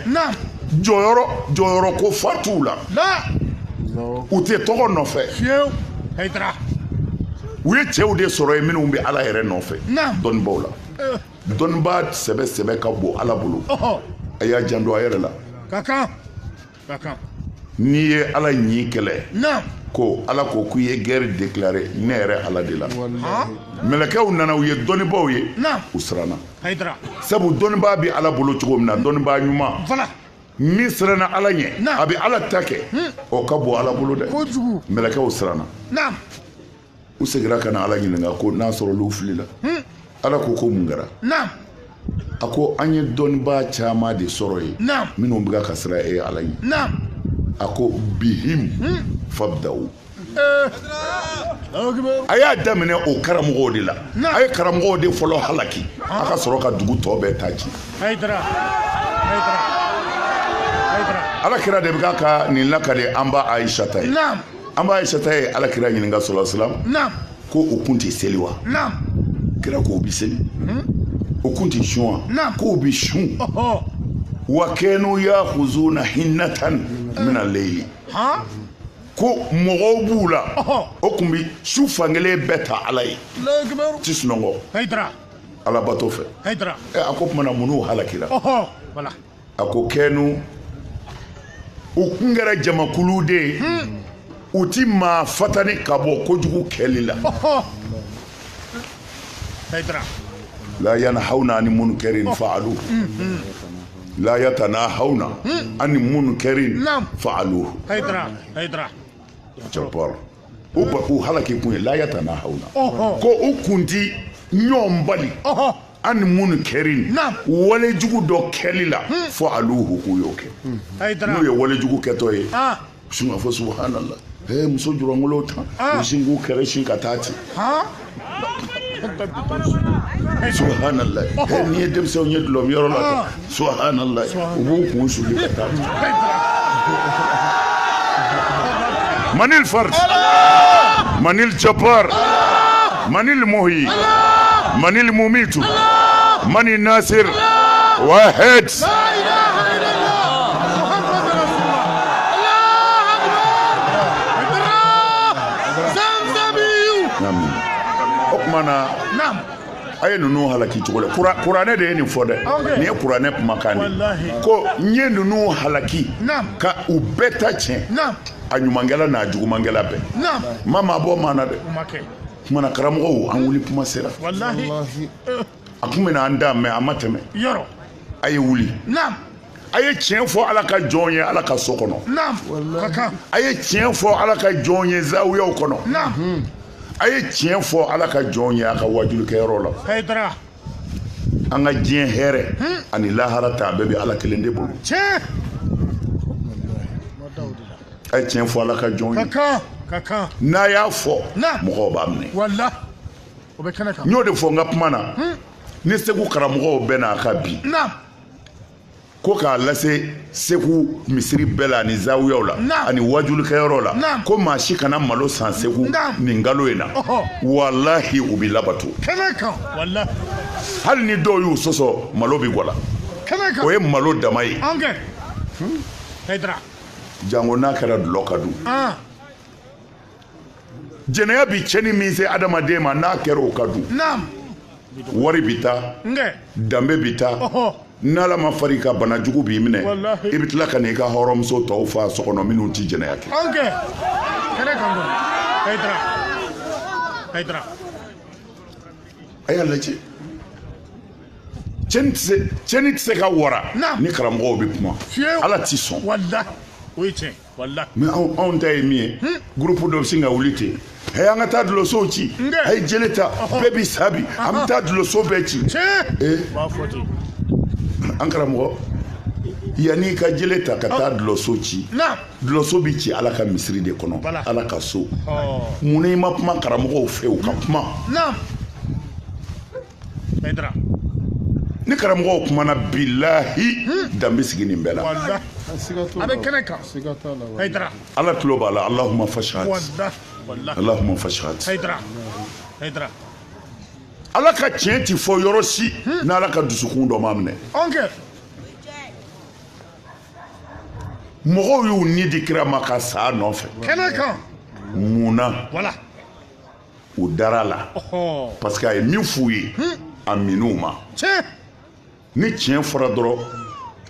jɔyɔrɔ jɔyɔrɔ ko fa t'u la u tɛ tɔgɔ nɔfɛ u ye cɛw de sɔrɔ yen minnu bɛ ala yɛrɛ nɔfɛ dɔnnibaaw la eh. dɔnnibaa sɛbɛ sɛbɛ ka bon ala bolo a y'a janto a yɛrɛ la n'i ye ala ɲi kɛlɛ ko ala ko k'u ye gɛri deklare ne yɛrɛ ala de la mɛlɛkɛw nana u ye dɔnnibaaw ye u siranna sabu dɔnnibaa bɛ ala bolo cogo min na dɔnnibaa ɲuman min siranna ala ɲɛ a bɛ ala ta kɛ hmm. o ka bon ala bolo dɛ mɛlɛkɛw siranna u segira ka na ala ɲininka ko n'a sɔrɔ olu filila hmm. ala ko ko mun kɛra a ko an ye dɔnnibaa caman de sɔrɔ yen minnu bɛ ka siran e ala ɲɛ a ko bihim hmm. fabdaw a y'a daminɛ o karamɔgɔw de la a ye karamɔgɔw de fɔlɔ halaki a ka sɔrɔ ka dugu tɔ bɛɛ ta ci ala kira de bɛ ka nin lakale an ba ayisata ye an ba ayisata ye ala kira ɲininka sɔla salam ko o kun tɛ seli wa kira ko o bɛ seli o kun tɛ sun wa k'o bɛ sun wa kɛnu yahuzuna hinatan mina leyili ko mɔgɔw b'u la o kun bɛ su fankelen bɛɛ ta ala ye u ti sunɔgɔ alabato fɛ a ko tuma na munna u halakira a ko kɛnu u kun kɛra jamakulu de ye hmm. u ti maa fatani ka bɔ kojugu kɛli la la yanahawna ani munkɛrin faaluhu hmm, hmm. la yatanahawna hmm. an munkɛrin faaluhu ba u halaki kun ye la yatanahawna ko u kun ti ɲɔgɔn bali an munkɛrin walejugu dɔ kɛli la hmm. faaluhu k'u y'o kɛ hmm. n'u ye walejugu kɛtɔ ye ah. Sun fɔ subhanallah muso julankolon tan ah. sin k'u kɛrɛ sin ka taa ten ha n'i ye denmisɛnw ye dulɔminyɔrɔ la ah. subhanallah u b'u kun suli ka taa manil fard manil jabbar manil muhyi manil mumitu mani nasir wa h a ye ninnu halaki cogo la kuranɛ de ye nin fɔ dɛ nin ye kuranɛ kumakan de ko n ye ninnu halaki ka u bɛɛ ta tiɲɛ a ɲumankɛla n'a jugumankɛla bɛɛ n ma maa bɔ maa na dɛ kumana karamɔgɔw an wuli kuma sera a tun bɛna an da mɛ a ma tɛmɛ yɔrɔ a ye wuli naam a ye tiɲɛ fɔ ala ka jɔn ye ala ka so kɔnɔ naam ka kan a ye tiɲɛ fɔ ala ka jɔn ye zawiyaw kɔnɔ naam a ye tiɲɛ fɔ ala ka jɔn ye a ka wajulikɛyɔrɔ la hayidara an ka diɲɛ hɛrɛ ani lahara ta a bɛɛ bɛ ala kelen de bolo tiɲɛ a ye tiɲɛ fɔ ala ka jɔn ye kan ka kan n'a y'a fɔ naam mɔgɔw b'a minɛ wala o bɛ kɛnɛ kan n y'o de fɔ n ka kuma na ni segu karamɔgɔw bɛnn'a kan bi ko k'a lase segu misiri bɛɛ la ani zawiyaw la ani wajulikɛyɔrɔ la ko maa si kana malo san segu nin kalo in na walahi o bɛ labato hali ni dɔw y'u sɔsɔ malo bɛ gwala o ye malo dama ye jango n'a kɛra dulɔ kan dun jɛnɛya bi cɛni min se adamaden ma n'a kɛra o kan dun wari bi taa danbe bi taa n'ala ma far'i kan bana jugu b'i minɛ i bɛ tila ka n'i ka hɔrɔnmuso tɔw fa so kɔnɔ minnu tɛ jɛnɛya kɛ a y'a lajɛ cɛni tɛ se ka wara ni karamɔgɔw bɛ kuma ala t'i sɔn mɛ anw ta ye min ye gurupu dɔ bɛ sin ka wuli ten ɛ an ka taa dulɔsow ci a ye jele ta bɛɛ bi sa bi an bɛ taa dulɔso bɛɛ ci an karamɔgɔ yanni i ka jele ta ka taa dulɔso ci dulɔso bɛ ci ala ka misiri de kɔnɔ ala ka so mun n'i ma kuma karamɔgɔw fɛ u ka kuma ni karamɔgɔw kumana bilahi dan bɛ sigi nin bɛɛ la a bɛ kɛnɛ kan hayidara ala tulo b'a la alahuma fashat alahuma fashat hayidara hayidara ala ka tiɲɛ ti fɔ yɔrɔ si hmm. n'ala ka dusukun dɔ ma minɛ mɔgɔw y'u ni di kira ma ka sa a nɔfɛ kɛnɛ kan mun na u dara la parce que a ye min f'u ye a min'u ma ni tiɲɛ fɔra dɔrɔn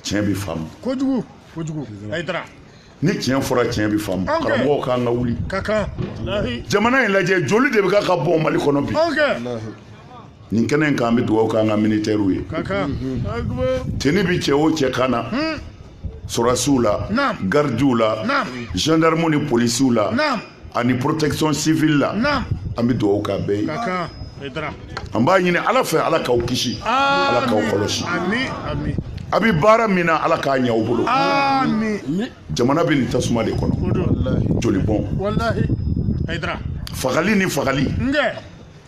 tiɲɛ bɛ faamu kojugu kojugu ayi dara ni tiɲɛ fɔra tiɲɛ bɛ faamu karamɔgɔw k'an ka wuli jamana in lajɛ joli de bɛ ka ka bɔ mali kɔnɔ bi nin kɛnɛ in kan an bɛ dugawu k'an ka militɛriw ye teni bi cɛ o cɛ kan na hmm. sɔrɔdasiw la garidiw la gendarmew ni polisiw la ani protection civile la an bɛ dugawu k'a bɛɛ ye an b'a ɲini ala fɛ ala k'aw kisi ala k'aw kɔlɔsi a bɛ baara min na ala k'a ɲɛ aw bolo jamana bɛ nin tasuma de kɔnɔ jolibɔn fagali ni fagali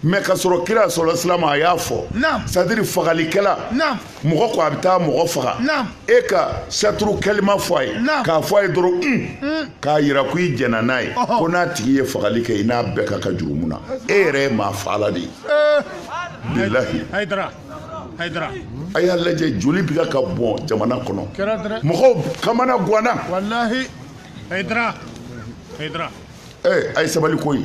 mɛ ka sɔrɔ kira salala salam a y'a fɔ c'est-à-dire fagalikɛla mɔgɔ ko a bɛ taa mɔgɔ faga e ka saturu kɛlima fɔ a ye k'a fɔ a ye dɔrɔn un k'a yira ko i jɛnna n'a ye ko n'a tigi ye fagali kɛ i n'a bɛɛ ka kan jurumu na e yɛrɛ ye maa faala de ye bilahi a y'a lajɛ joli bi ka bɔn jamana kɔnɔ mɔgɔw kamana gwanna ee a ye sabali koyi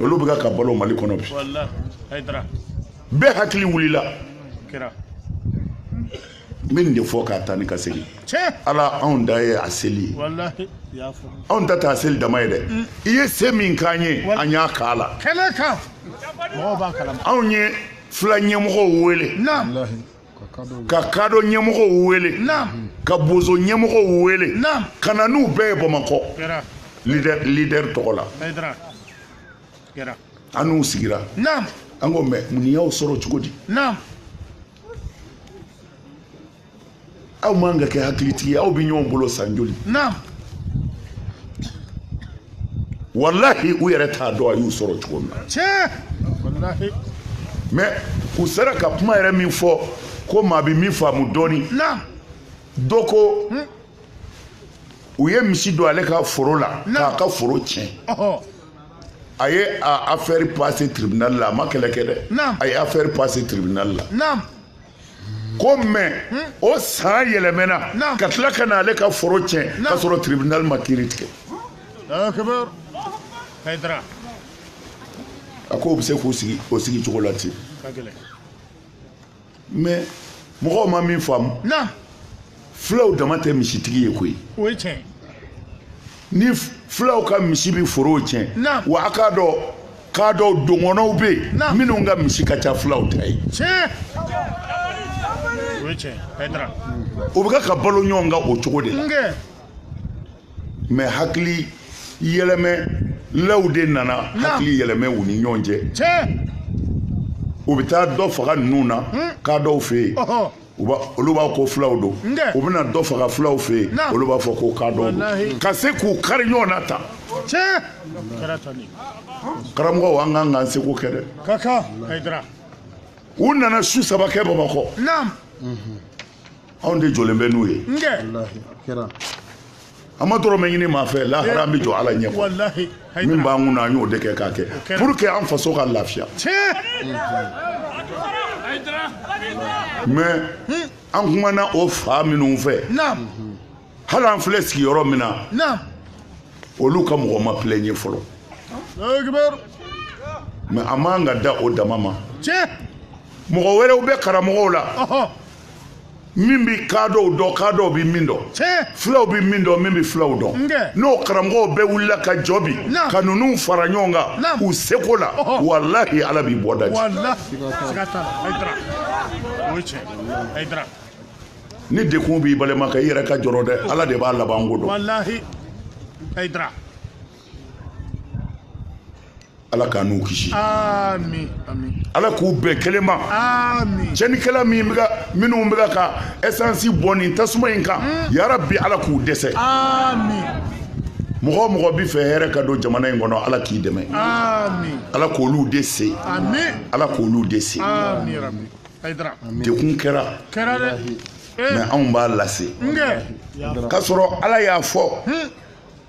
olu bɛ ka balo mali kɔnɔ bi bɛɛ hakili wulila n bɛ nin de fɔ ka taa ni ka segin ala anw da ye a seli ye anw ta tɛ a seli dama ye dɛ mm. i ye se min k'an ye an y'a kɛ ala anw ye fula ɲɛmɔgɔw wele ka kadɔ ɲɛmɔgɔw wele ka bozo ɲɛmɔgɔw wele ka na n'u bɛɛ ye bamakɔ lidɛri tɔgɔ la an n'u sigira an ko mɛ mun y'aw sɔrɔ cogo di aw man ka kɛ hakilitigi ye aw bɛ ɲɔgɔn bolo san joli walahi u yɛrɛ t'a dɔn a y'u sɔrɔ cogo min na mɛ u sera ka kuma yɛrɛ min fɔ ko maa bɛ min faamu dɔɔni dɔ ko hmm? u ye misi don ale ka foro la k'a ka foro tiɲɛ a ye a affaire passé tribunal la a ma kɛlɛ kɛ dɛ a ye affaire passé tribunal la ko mais o san yɛlɛmɛna ka tila ka na ale ka foro tiɲɛ ka sɔrɔ tribunal ma kiiri tigɛ a ko u bɛ se k'u sigi o sigi cogo la ten mais mɔgɔw ma min faamu fulaw dama tɛ misitigi ye koyi ni fulaw ka misi bɛ forow tiɲɛ wa a k'a dɔn kaadɔw dogɔnɔw bɛ yen minnu ka misi ka ca fulaw ta ye u bɛ kan ka balo ɲɔgɔn kan o cogo de la mais hakili yɛlɛmɛlaw de nana hakili yɛlɛmɛ u ni ɲɔgɔn cɛ u bɛ taa dɔ faga ninnu na kaadɔw fɛ yen olu b'a ko fulaw don u bɛna dɔ faga fulaw fɛ yen olu b'a fɔ ko kaadɔw don ka se k'u kari ɲɔgɔn na tan karamɔgɔw an kan k'an seko kɛ dɛ u nana su saba kɛ bamakɔ anw de jɔlen bɛ n'u ye an ma dɔrɔmɛ ɲini maa fɛ lahara an bɛ jɔ ala ɲɛ min b'an kun na an y'o de kɛ k'a kɛ pour que an faso ka lafiya mais an kumana o fan minnu fɛ hali an filɛ sigiyɔrɔ min na olu ka mɔgɔ ma plaigné fɔlɔ mais a man ka da o dama ma mɔgɔ wɛrɛw bɛ karamɔgɔw la min bɛ kaadɔw dɔn kaadɔw bɛ min dɔn fulaw bɛ min dɔn min bɛ fulaw dɔn n'o karamɔgɔw bɛɛ wulila ka jɔ bi ka ninnu fara ɲɔgɔn kan u seko la walahi ala bɛ bɔda ji ni dekun b'i balima kan i yɛrɛ ka jɔrɔ dɛ ala de b'a laban ko dɔn ala k'an n'u kisi ala k'u bɛn kelen ma cɛnnikɛla minnu bɛ ka essence bɔn nin tasuma in kan hmm. yarabi ala k'u dɛsɛ mɔgɔ o mɔgɔ b'a fɛ hɛrɛ ka don jamana in kɔnɔ ala k'i dɛmɛ ala k'olu de se ala k'olu de se dekun kɛra mais anw b'a lase ka sɔrɔ ala y'a fɔ hmm.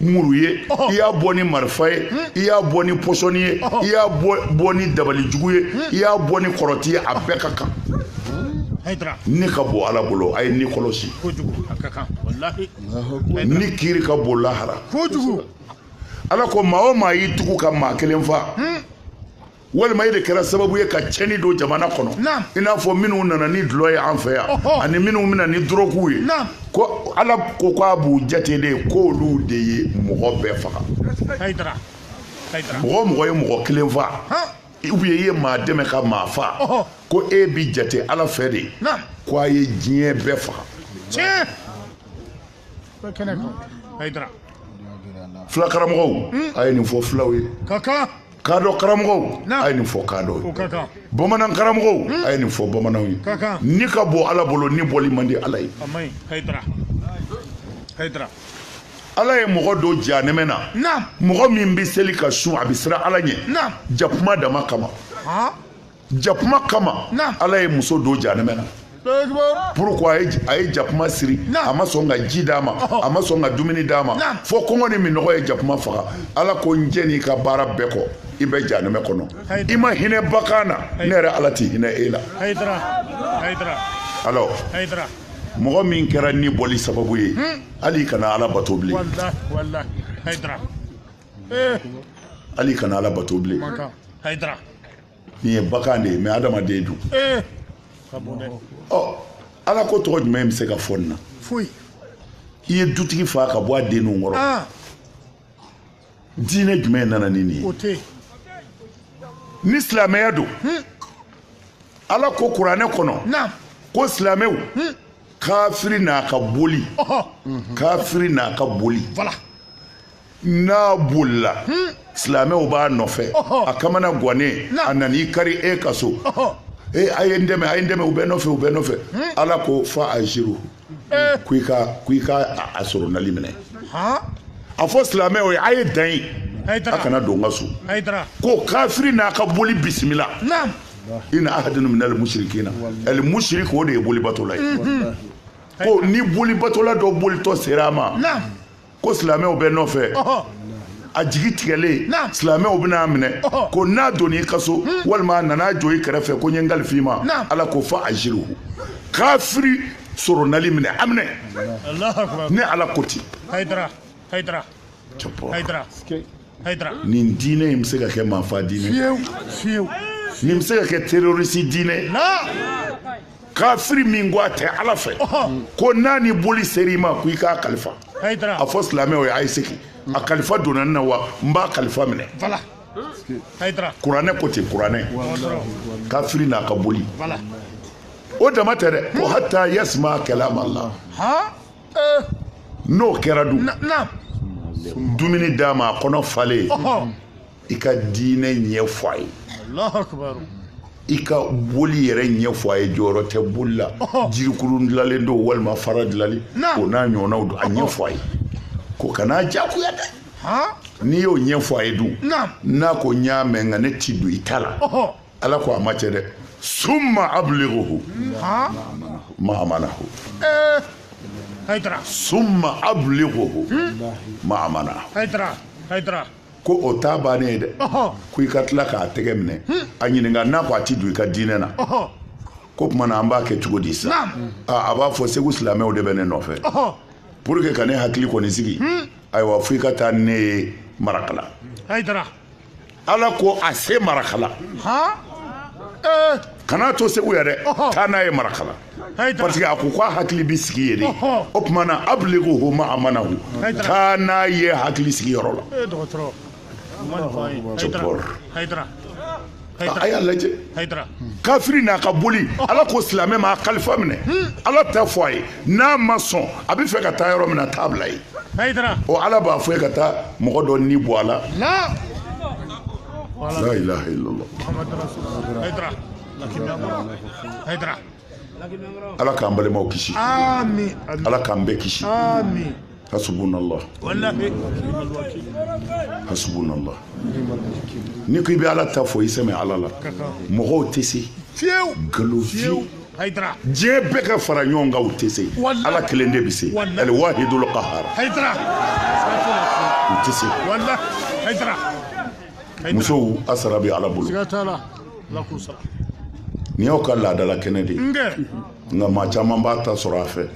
muru ye i y'a bɔ ni marifa ye i y'a bɔ ni pɔsɔni ye i y'a bɔ ni dabalijugu ye i y'a bɔ ni kɔrɔti ye a bɛɛ ka kan ni ka bon ala bolo a ye ni kɔlɔsi ni kiiri ka bon lahara ala ko maa o maa y'i tugu ka maa kelen fa walima e de kɛra sababu ye ka cɛnni don jamana kɔnɔ i n'a fɔ minnu nana ni dulɔ ye an fɛ yan ani minnu bɛ na ni dɔrɔguw ye ko ala ko k'a b'u jate de k'olu de ye mɔgɔ bɛɛ faga mɔgɔ o mɔgɔ ye mɔgɔ kelen fa ou bien i ye maa dɛmɛ ka maa fa ko e bi jate ala fɛ de ko a ye diɲɛ bɛɛ faga fula karamɔgɔw a ye nin fɔ fulaw ye kadɔ karamɔgɔw a ye nin fɔ kadɔw ye bamanan karamɔgɔw hmm. a ye nin fɔ bamananw ye ni ka bɔ ala bolo ni bɔli man di ala ye ala ye mɔgɔ don janɛmɛ na mɔgɔ min bɛ seli ka sun a bɛ siran ala ɲɛ jakuma dama kama jakuma kama ala ye muso don janɛmɛ na pourquoi a ye jakuma siri a ma sɔn ka ji d'a ma a ma sɔn ka dumuni d'a ma fo kɔngɔ ni minɔgɔ ye jakuma faga ala ko n jɛnn'i ka baara bɛɛ kɔ i bɛ janɛmɛ kɔnɔ i ma hinɛ bagan na ne yɛrɛ ala ti hinɛ e la alors mɔgɔ min kɛra ni bɔli sababu ye hmm. hali kana ala bato bilen hali kana ala bato bilen nin ye bagan de ye mais adamaden dun eh! ɔ ala ko tɔgɔ jumɛn bɛ se ka fɔ nin na foyi i ye dutigi fa ka bɔ a denninw kɔrɔ ah! diinɛ jumɛn nana ni nin ye ni silamɛya don hmm. ala ko kuranɛ kɔnɔ ko silamɛw hmm. kafiri n'a ka boli kafiri n'a ka boli n'a bolila silamɛw b'a nɔfɛ a kamana gannen a nan'i kari e ka so ee a ye n dɛmɛ a ye n dɛmɛ u bɛ n nɔfɛ u bɛ n nɔfɛ ala ko fa ajiru ko i ka ko i ka a sɔrɔnali minɛ a fɔ silamɛw ye a ye dan yen a kana don n ka so ko kafiri n'a ka boli bisimila ina ahadun minal musirikina alimusirik o de ye bolibatola ye ko ni bolibatola dɔ bolitɔ sera a ma ko silamɛw bɛ n nɔfɛ a jigi tigɛlen silamɛw bɛn'a minɛ ko n'a donna i ka so hmm. walima a nana jɔ i kɛrɛfɛ ko n ye n kalif'i ma ala ko fa ajiru kafiri sɔrɔnali minɛ a minɛ ne ala ko ten nin diinɛ in bɛ se ka kɛ maafa diinɛ nin bɛ se ka kɛ terorisi diinɛ kafiri min ko a tɛ ala fɛ ko n'a ni boli sera i ma ko i k'a kalifa a fɔ silamɛw ye a ye segin a kalifa donna n na wa n b'a kalifa minɛ kuranɛ ko ten kuranɛ kafiri n'a ka boli o dama tɛ dɛ ko hata yasima kalama ala eh. n'o kɛra dun dumuni d'a ma a kɔnɔ falen i ka diinɛ ɲɛ fɔ a ye i ka boli yɛrɛ ɲɛ fɔ a ye jɔyɔrɔ tɛ boli la jirikuru dilalen don walima fara dilalen o n'a ɲɔgɔnnaw don a ɲɛ fɔ a ye ko kana jagoya dɛ n'i y'o ɲɛ fɔ a ye dun n'a ko n y'a mɛn nka ne ti don i ta la ala ko a ma cɛ dɛ summa abligohu ma amanahu eh, summa abligohu hmm? ma amanahu ko o t'a bannen ye dɛ ko i ka tila k'a tɛgɛ minɛ a ɲininka n'a ko a ti don i ka diinɛ na k'o tuma na an b'a kɛ cogo di sa a b'a fɔ segu silamɛw de bɛ ne nɔfɛ pour que ka ne hakili kɔni sigi ayiwa fo i ka taa ne ye marakala ala ko a se marakala kan'a to segu yan dɛ taa n'a ye marakala parce que a ko k'a hakili bɛ sigi yen de o tuma na abligohu ma amanahu taa n'a ye hakili sigiyɔrɔ la a y'a lajɛ kafiri n'a ka boli ala ko silamɛ ma a kalifa minɛ ala ta fɔ a ye n'a ma sɔn a bɛ fɛ ka taa yɔrɔ min na taa a bila yen o ala b'a fɔ i ye ka taa mɔgɔ dɔ ni bɔ a la la ilaha illallah ala k'an balimaw kisi ala k'an bɛɛ kisi hasubunallah hasubunallah n'i ko i bɛ ala ta fɔ i sɛmɛ ala la mɔgɔw tɛ se nkalon fiyewu diɲɛ bɛɛ ka fara ɲɔgɔn kan u tɛ se ala kelen de bɛ se al wahidul qahar u tɛ se musow a sara bɛ ala bolo nin y'aw ka laadala kɛnɛ de ye nka maa caman b'a ta sɔrɔ a fɛ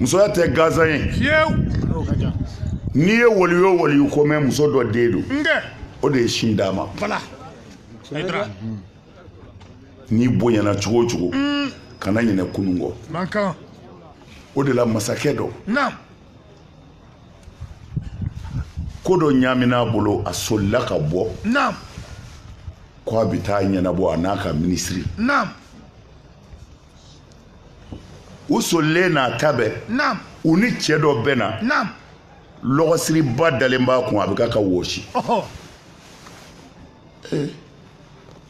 musoya tɛ gansan ye n'i ye waliyu o waliyu ko mɛn muso dɔ den don o de ye sin d'a ma n'i bonyana cogo o cogo mm. kana ɲinɛ kunun kɔ o de la masakɛ dɔ ko dɔ ɲaamina a bolo a solila ka bɔ naam ko a bɛ taa a ɲɛnabɔ a n'a ka minisiri naam u solilen n'a ta bɛɛ naam u ni cɛ dɔ bɛnna naam lɔgɔsiriba dalen b'a kun a bɛ kan ka wɔsi ɔhɔ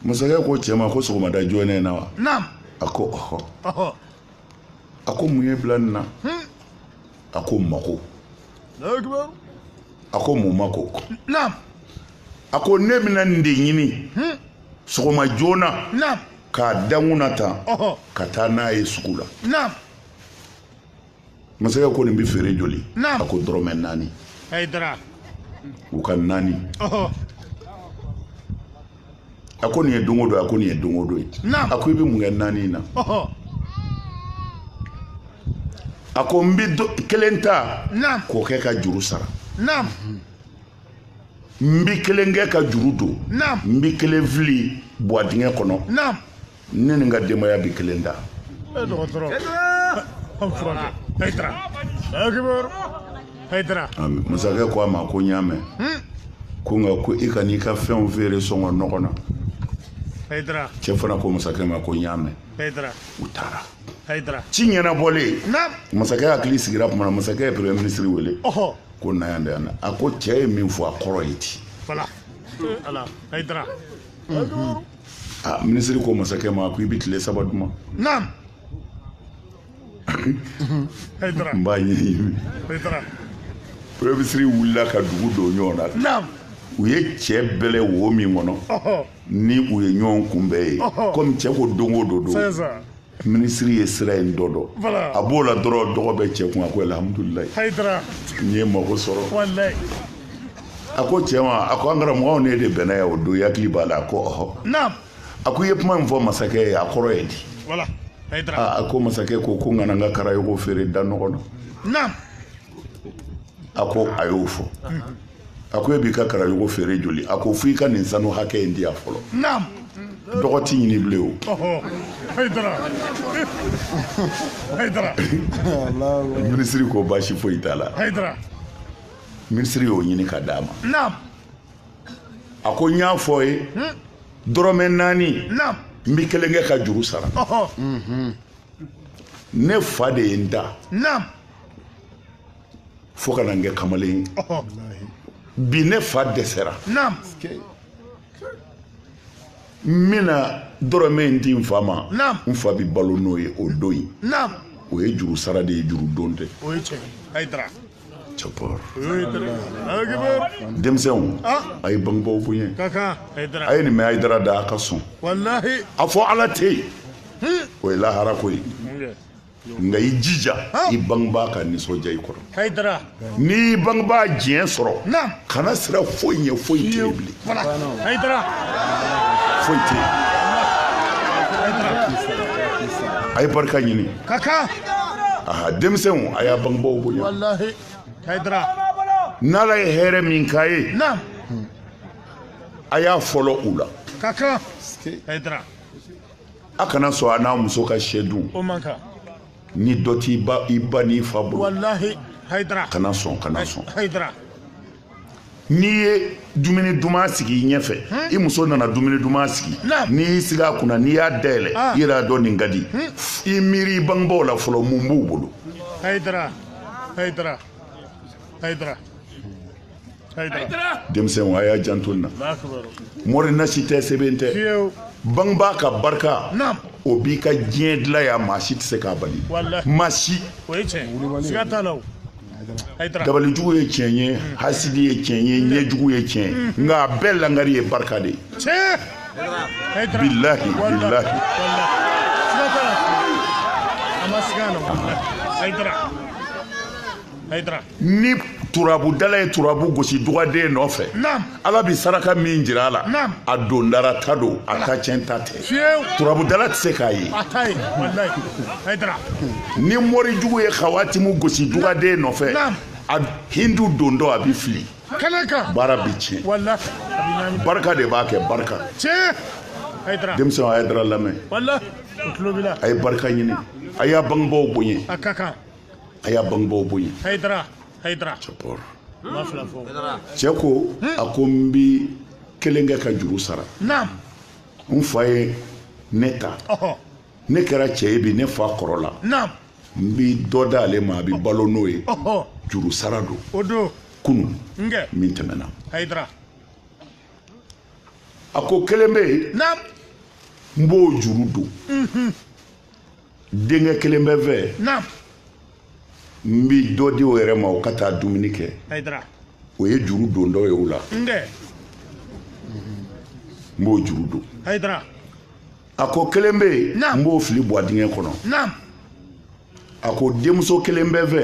masakɛ ko cɛ ma ko sɔgɔmada joona in na wa naam a ko ɔhɔ ɔhɔ a ko mun y'i bila nin na hmm. a ko mako a ko mun mako a ko ne bɛna nin de ɲini hmm. sɔgɔma joona k'a da n kun na tan ka taa n'a ye sugu la masakɛ ko nin bɛ feere joli a ko dɔrɔmɛ naani u ka naani a ko nin ye don o don a ko nin ye don o don ye a ko i bɛ mun kɛ naani in na a ko n bɛ kelen ta k'o kɛ ka juru sara n bɛ kelen kɛ ka juru don n bɛ kelen fili buwa dingɛ kɔnɔ ne ni n ka denbaya bi kelen ta dɔgɔtɔrɔ an furakɛ hayidara akibaru hayidara masakɛ ko a ma ko n y'a mɛn hmm? ko nka ko i kan'i ka fɛnw feere sɔngɔ nɔgɔ na hayidara cɛ fana ko masakɛ ma ko n y'a mɛn hayidara u taara hayidara ci ɲɛnabɔlen masakɛ hakili sigira tuma na masakɛ ye premier ministre wele ko na yan da yan a ko cɛ ye min fɔ a kɔrɔ ye di voilà ala hayidara ah, minisiri ko masakɛ ma ko i bɛ tile saba di n ma naam n b'a ɲɛɲini premier ministre wulila ka dugu don ɲɔgɔn na u ye cɛ bɛlɛ wo min kɔnɔ ni u ye ɲɔgɔn kunbɛn yen komi cɛ ko don o don don minisiri ye sira in dɔ dɔn a b'o la dɔrɔn dɔgɔ bɛ cɛ kun a ko alhamdulilayi n ye mago sɔrɔ a ko cɛ ma a ko an karamɔgɔw ne de bɛnna yan o don i hakili b'a la a ko ɔhɔ a ko i ye kuma min fɔ masakɛ ye a kɔrɔ ye di a ko masakɛ ko ko n kana n ka karayogo feere da nɔgɔ na a ko a y'o fɔ a ko e b'i ka karayogo feere joli a ko fo i ka nin sanu hakɛ in di yan fɔlɔ dɔgɔ ti ɲini bilen o minisiri ko baasi foyi t'a la minisiri y'o ɲini ka d'a ma a ko n y'a fɔ ye hmm? dɔrɔmɛ naani n bɛ kelen kɛ ka juru sara ne fa de ye n ta fo ka na n kɛ kamalen ye bi ne fa dɛsɛra n bɛna dɔrɔmɛ in di n fa ma n fa bɛ balo n'o ye o don in o ye juru sara de ye juru don tɛ takbir denmisɛnw a ye bangebaaw bonya a ye nin mɛn hayidara da a ka sɔn a fɔ ala tɛ yen o ye lahara ko ye nka i jija i bangebaa ka nisɔndiya i kɔrɔ n'i y'i bangebaa diɲɛ sɔrɔ kana siran foyi ɲɛ foyi tɛ yen bilen foyi tɛ yen a ye barika ɲini aha denmisɛnw a y'a bangebaaw bonya n'ala ye hɛrɛ min k'a ye a y'a fɔlɔ u la a kana sɔn a n'a muso ka sɛ dun ni dɔ t'i ba n'i fa bolo kana sɔn kana sɔn n'i ye dumuni duman sigi i ɲɛfɛ i muso nana dumuni duman sigi n'i y'i sigi a kunna n'i y'a dayɛlɛ ah. i yɛrɛ y'a dɔn nin ka di i miiri i bangebaaw la fɔlɔ mun b'u bolo denmisɛnw a y'a janto nin na mori nasi tɛ sɛbɛn tɛ bangebaa ka barika o b'i ka diɲɛ dilan yan maa si tɛ se k'a bali maa si dabalijugu ye tiɲɛ ye mm. hasidi ye tiɲɛ ye mm. ɲɛjugu ye tiɲɛ mm. nka a bɛɛ langari ye barika de ye bilahi bilahi Haydara. Haydara. ni turabudala ye turabu gosi dugaden nɔfɛ ala bɛ saraka min jira a la a dondara ta don a ta tiɲɛ ta tɛ turabudala tɛ se k'a ye ni mɔri jugu ye kawatimu gosi dugaden nɔfɛ a hindu don dɔ a bɛ fili baara bɛ tiɲɛ barika de b'a kɛ barika denmisɛnw a ye hayidara lamɛn a ye barika ɲini a y'a bangebaaw bonya a y'a bangebaaw bonya hayidara hayidara cɛkɔrɔ ma fila fɔ cɛ ko a ko n bi kelen kɛ ka juru sara naam n fa ye ne ta ɔhɔ ne kɛra cɛ ye bi ne fa kɔrɔla naam n bi dɔ d'ale ma a bi balo n'o ye ɔhɔ juru sara don o don kunun kɛ min tɛmɛna hayidara a ko kelen bɛ yen naam n b'o juru don denkɛ kelen bɛ n fɛ n bi dɔ di o yɛrɛ ma o ka taa dumuni kɛ o ye juru don dɔ ye o la n b'o juru don a ko kelen bɛ yen n b'o fili bɔgɔdingɛ kɔnɔ a ko denmuso kelen bɛ n fɛ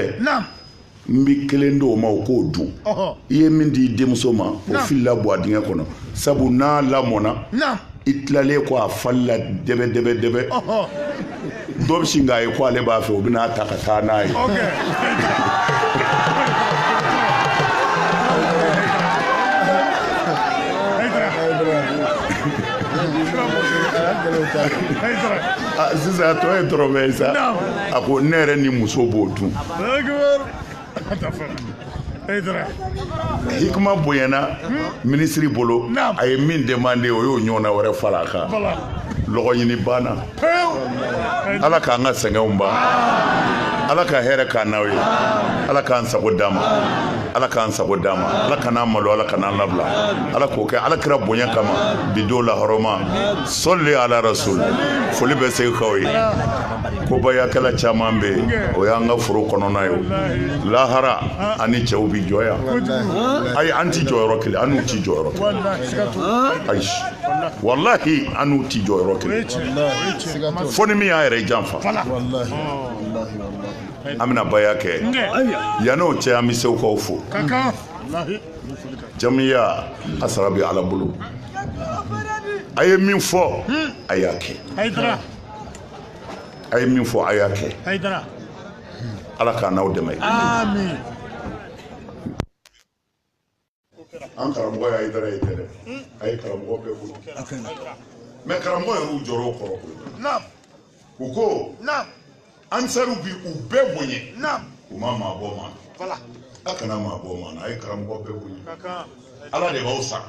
n bɛ kelen di o ma o k'o dun i ye min di i denmuso ma o filila bɔ a dingɛ kɔnɔ sabu n'a lamɔna i tilalen kɔ a falila dɛbɛ dɛbɛ dɛbɛ dɔ bɛ sin k'a ye ko ale b'a fɛ o bɛn'a ta ka taa n'a ye sisan a tɔ ye dɔrɔmɛ ye sa a ko ne yɛrɛ ni muso b'o dun Hikima bonyana minisiri bolo a ye min demande o y'o ɲɔgɔnna wɛrɛ fara a kan lɔgɔ ɲini banna ala k'an ka sɛgɛnw ban ala ka hɛrɛ k'an n'aw ye ala k'an sago d'an ma ala k'an sago d'an ma ala kan'an malo ala kan'an labila ala k'o kɛ ala kira bonya kama bi don lahɔrɔma sɔli ala rasul foli bɛ segukaw ye ko bayakɛla caman bɛ yen o y'an ka foro kɔnɔna ye lahara an ni cɛw bi jɔ yan ayi an ti jɔyɔrɔ kelen an n'u ti jɔyɔrɔ kelen ayi walahi an n'u ti jɔyɔrɔ kelen fo ni min y'a yɛrɛ janfa an bɛna baya kɛ yan'o cɛ an bɛ se k'aw fo jamiya a sara bɛ ala bolo a ye min fɔ a y'a kɛ a ye min fɔ a y'a kɛ ala k'an n'aw dɛmɛ an karamɔgɔya idara ye tɛ dɛ a ye karamɔgɔ bɛɛ bolo mɛ karamɔgɔ yɛrɛ u jɔrɔ o kɔrɔ u ko ansaruw bi u bɛɛ bonya u ma maa bɔ maa na a kana maa bɔ maa na a ye karamɔgɔ bɛɛ bonya ala de b'aw sara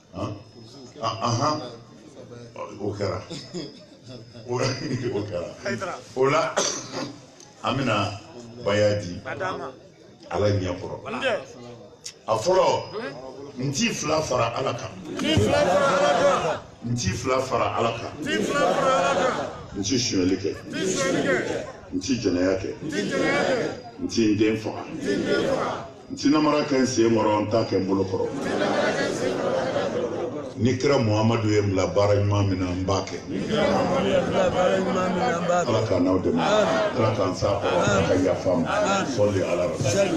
o kɛra o kɛra o la an bɛna baya di ala ɲɛ kɔrɔ a fɔlɔ n ti fila fara ala kan n ti fila fara ala kan n ti sonyali kɛ n ti jɛnɛya kɛ n ti n den faga n ti namara kɛ n sen kɔrɔ n t'a kɛ n bolo kɔrɔ ni kira muhamadu ye n bila baara ɲuman min na n b'a kɛ ala k'an n'aw dɛmɛ ala k'an s'a kɔrɔ ala ka yafa an ma sɔli ala rasul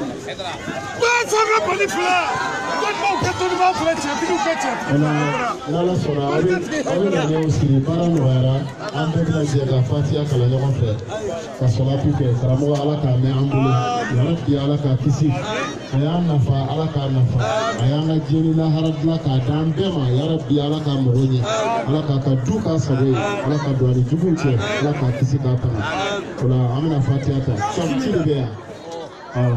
sanga bali fila dɔnnibaw kɛ dɔnnibaw fila cɛtigiw kɛ cɛtigiw n'ala sɔnna aw bɛ aw bɛ na ɲɛw siri baara nɔgɔyara an bɛɛ bɛna jɛ ka fatiya kalan ɲɔgɔn fɛ ka salatu kɛ karamɔgɔ ala k'a mɛn an bolo ya rabi ala k'a kisi a y'an nafa ala k'a nafa a y'an ka diɲɛ ni lahara dilan k'a d'an bɛɛ ma ya rabi ala k'a mago ɲɛ ala k'a ka du k'a sago ye ala ka don a ni juguw cɛ ala k'a kisi k'a tanga o la an bɛna fatiya ta sɔrɔ ci de bɛ yan awɔ.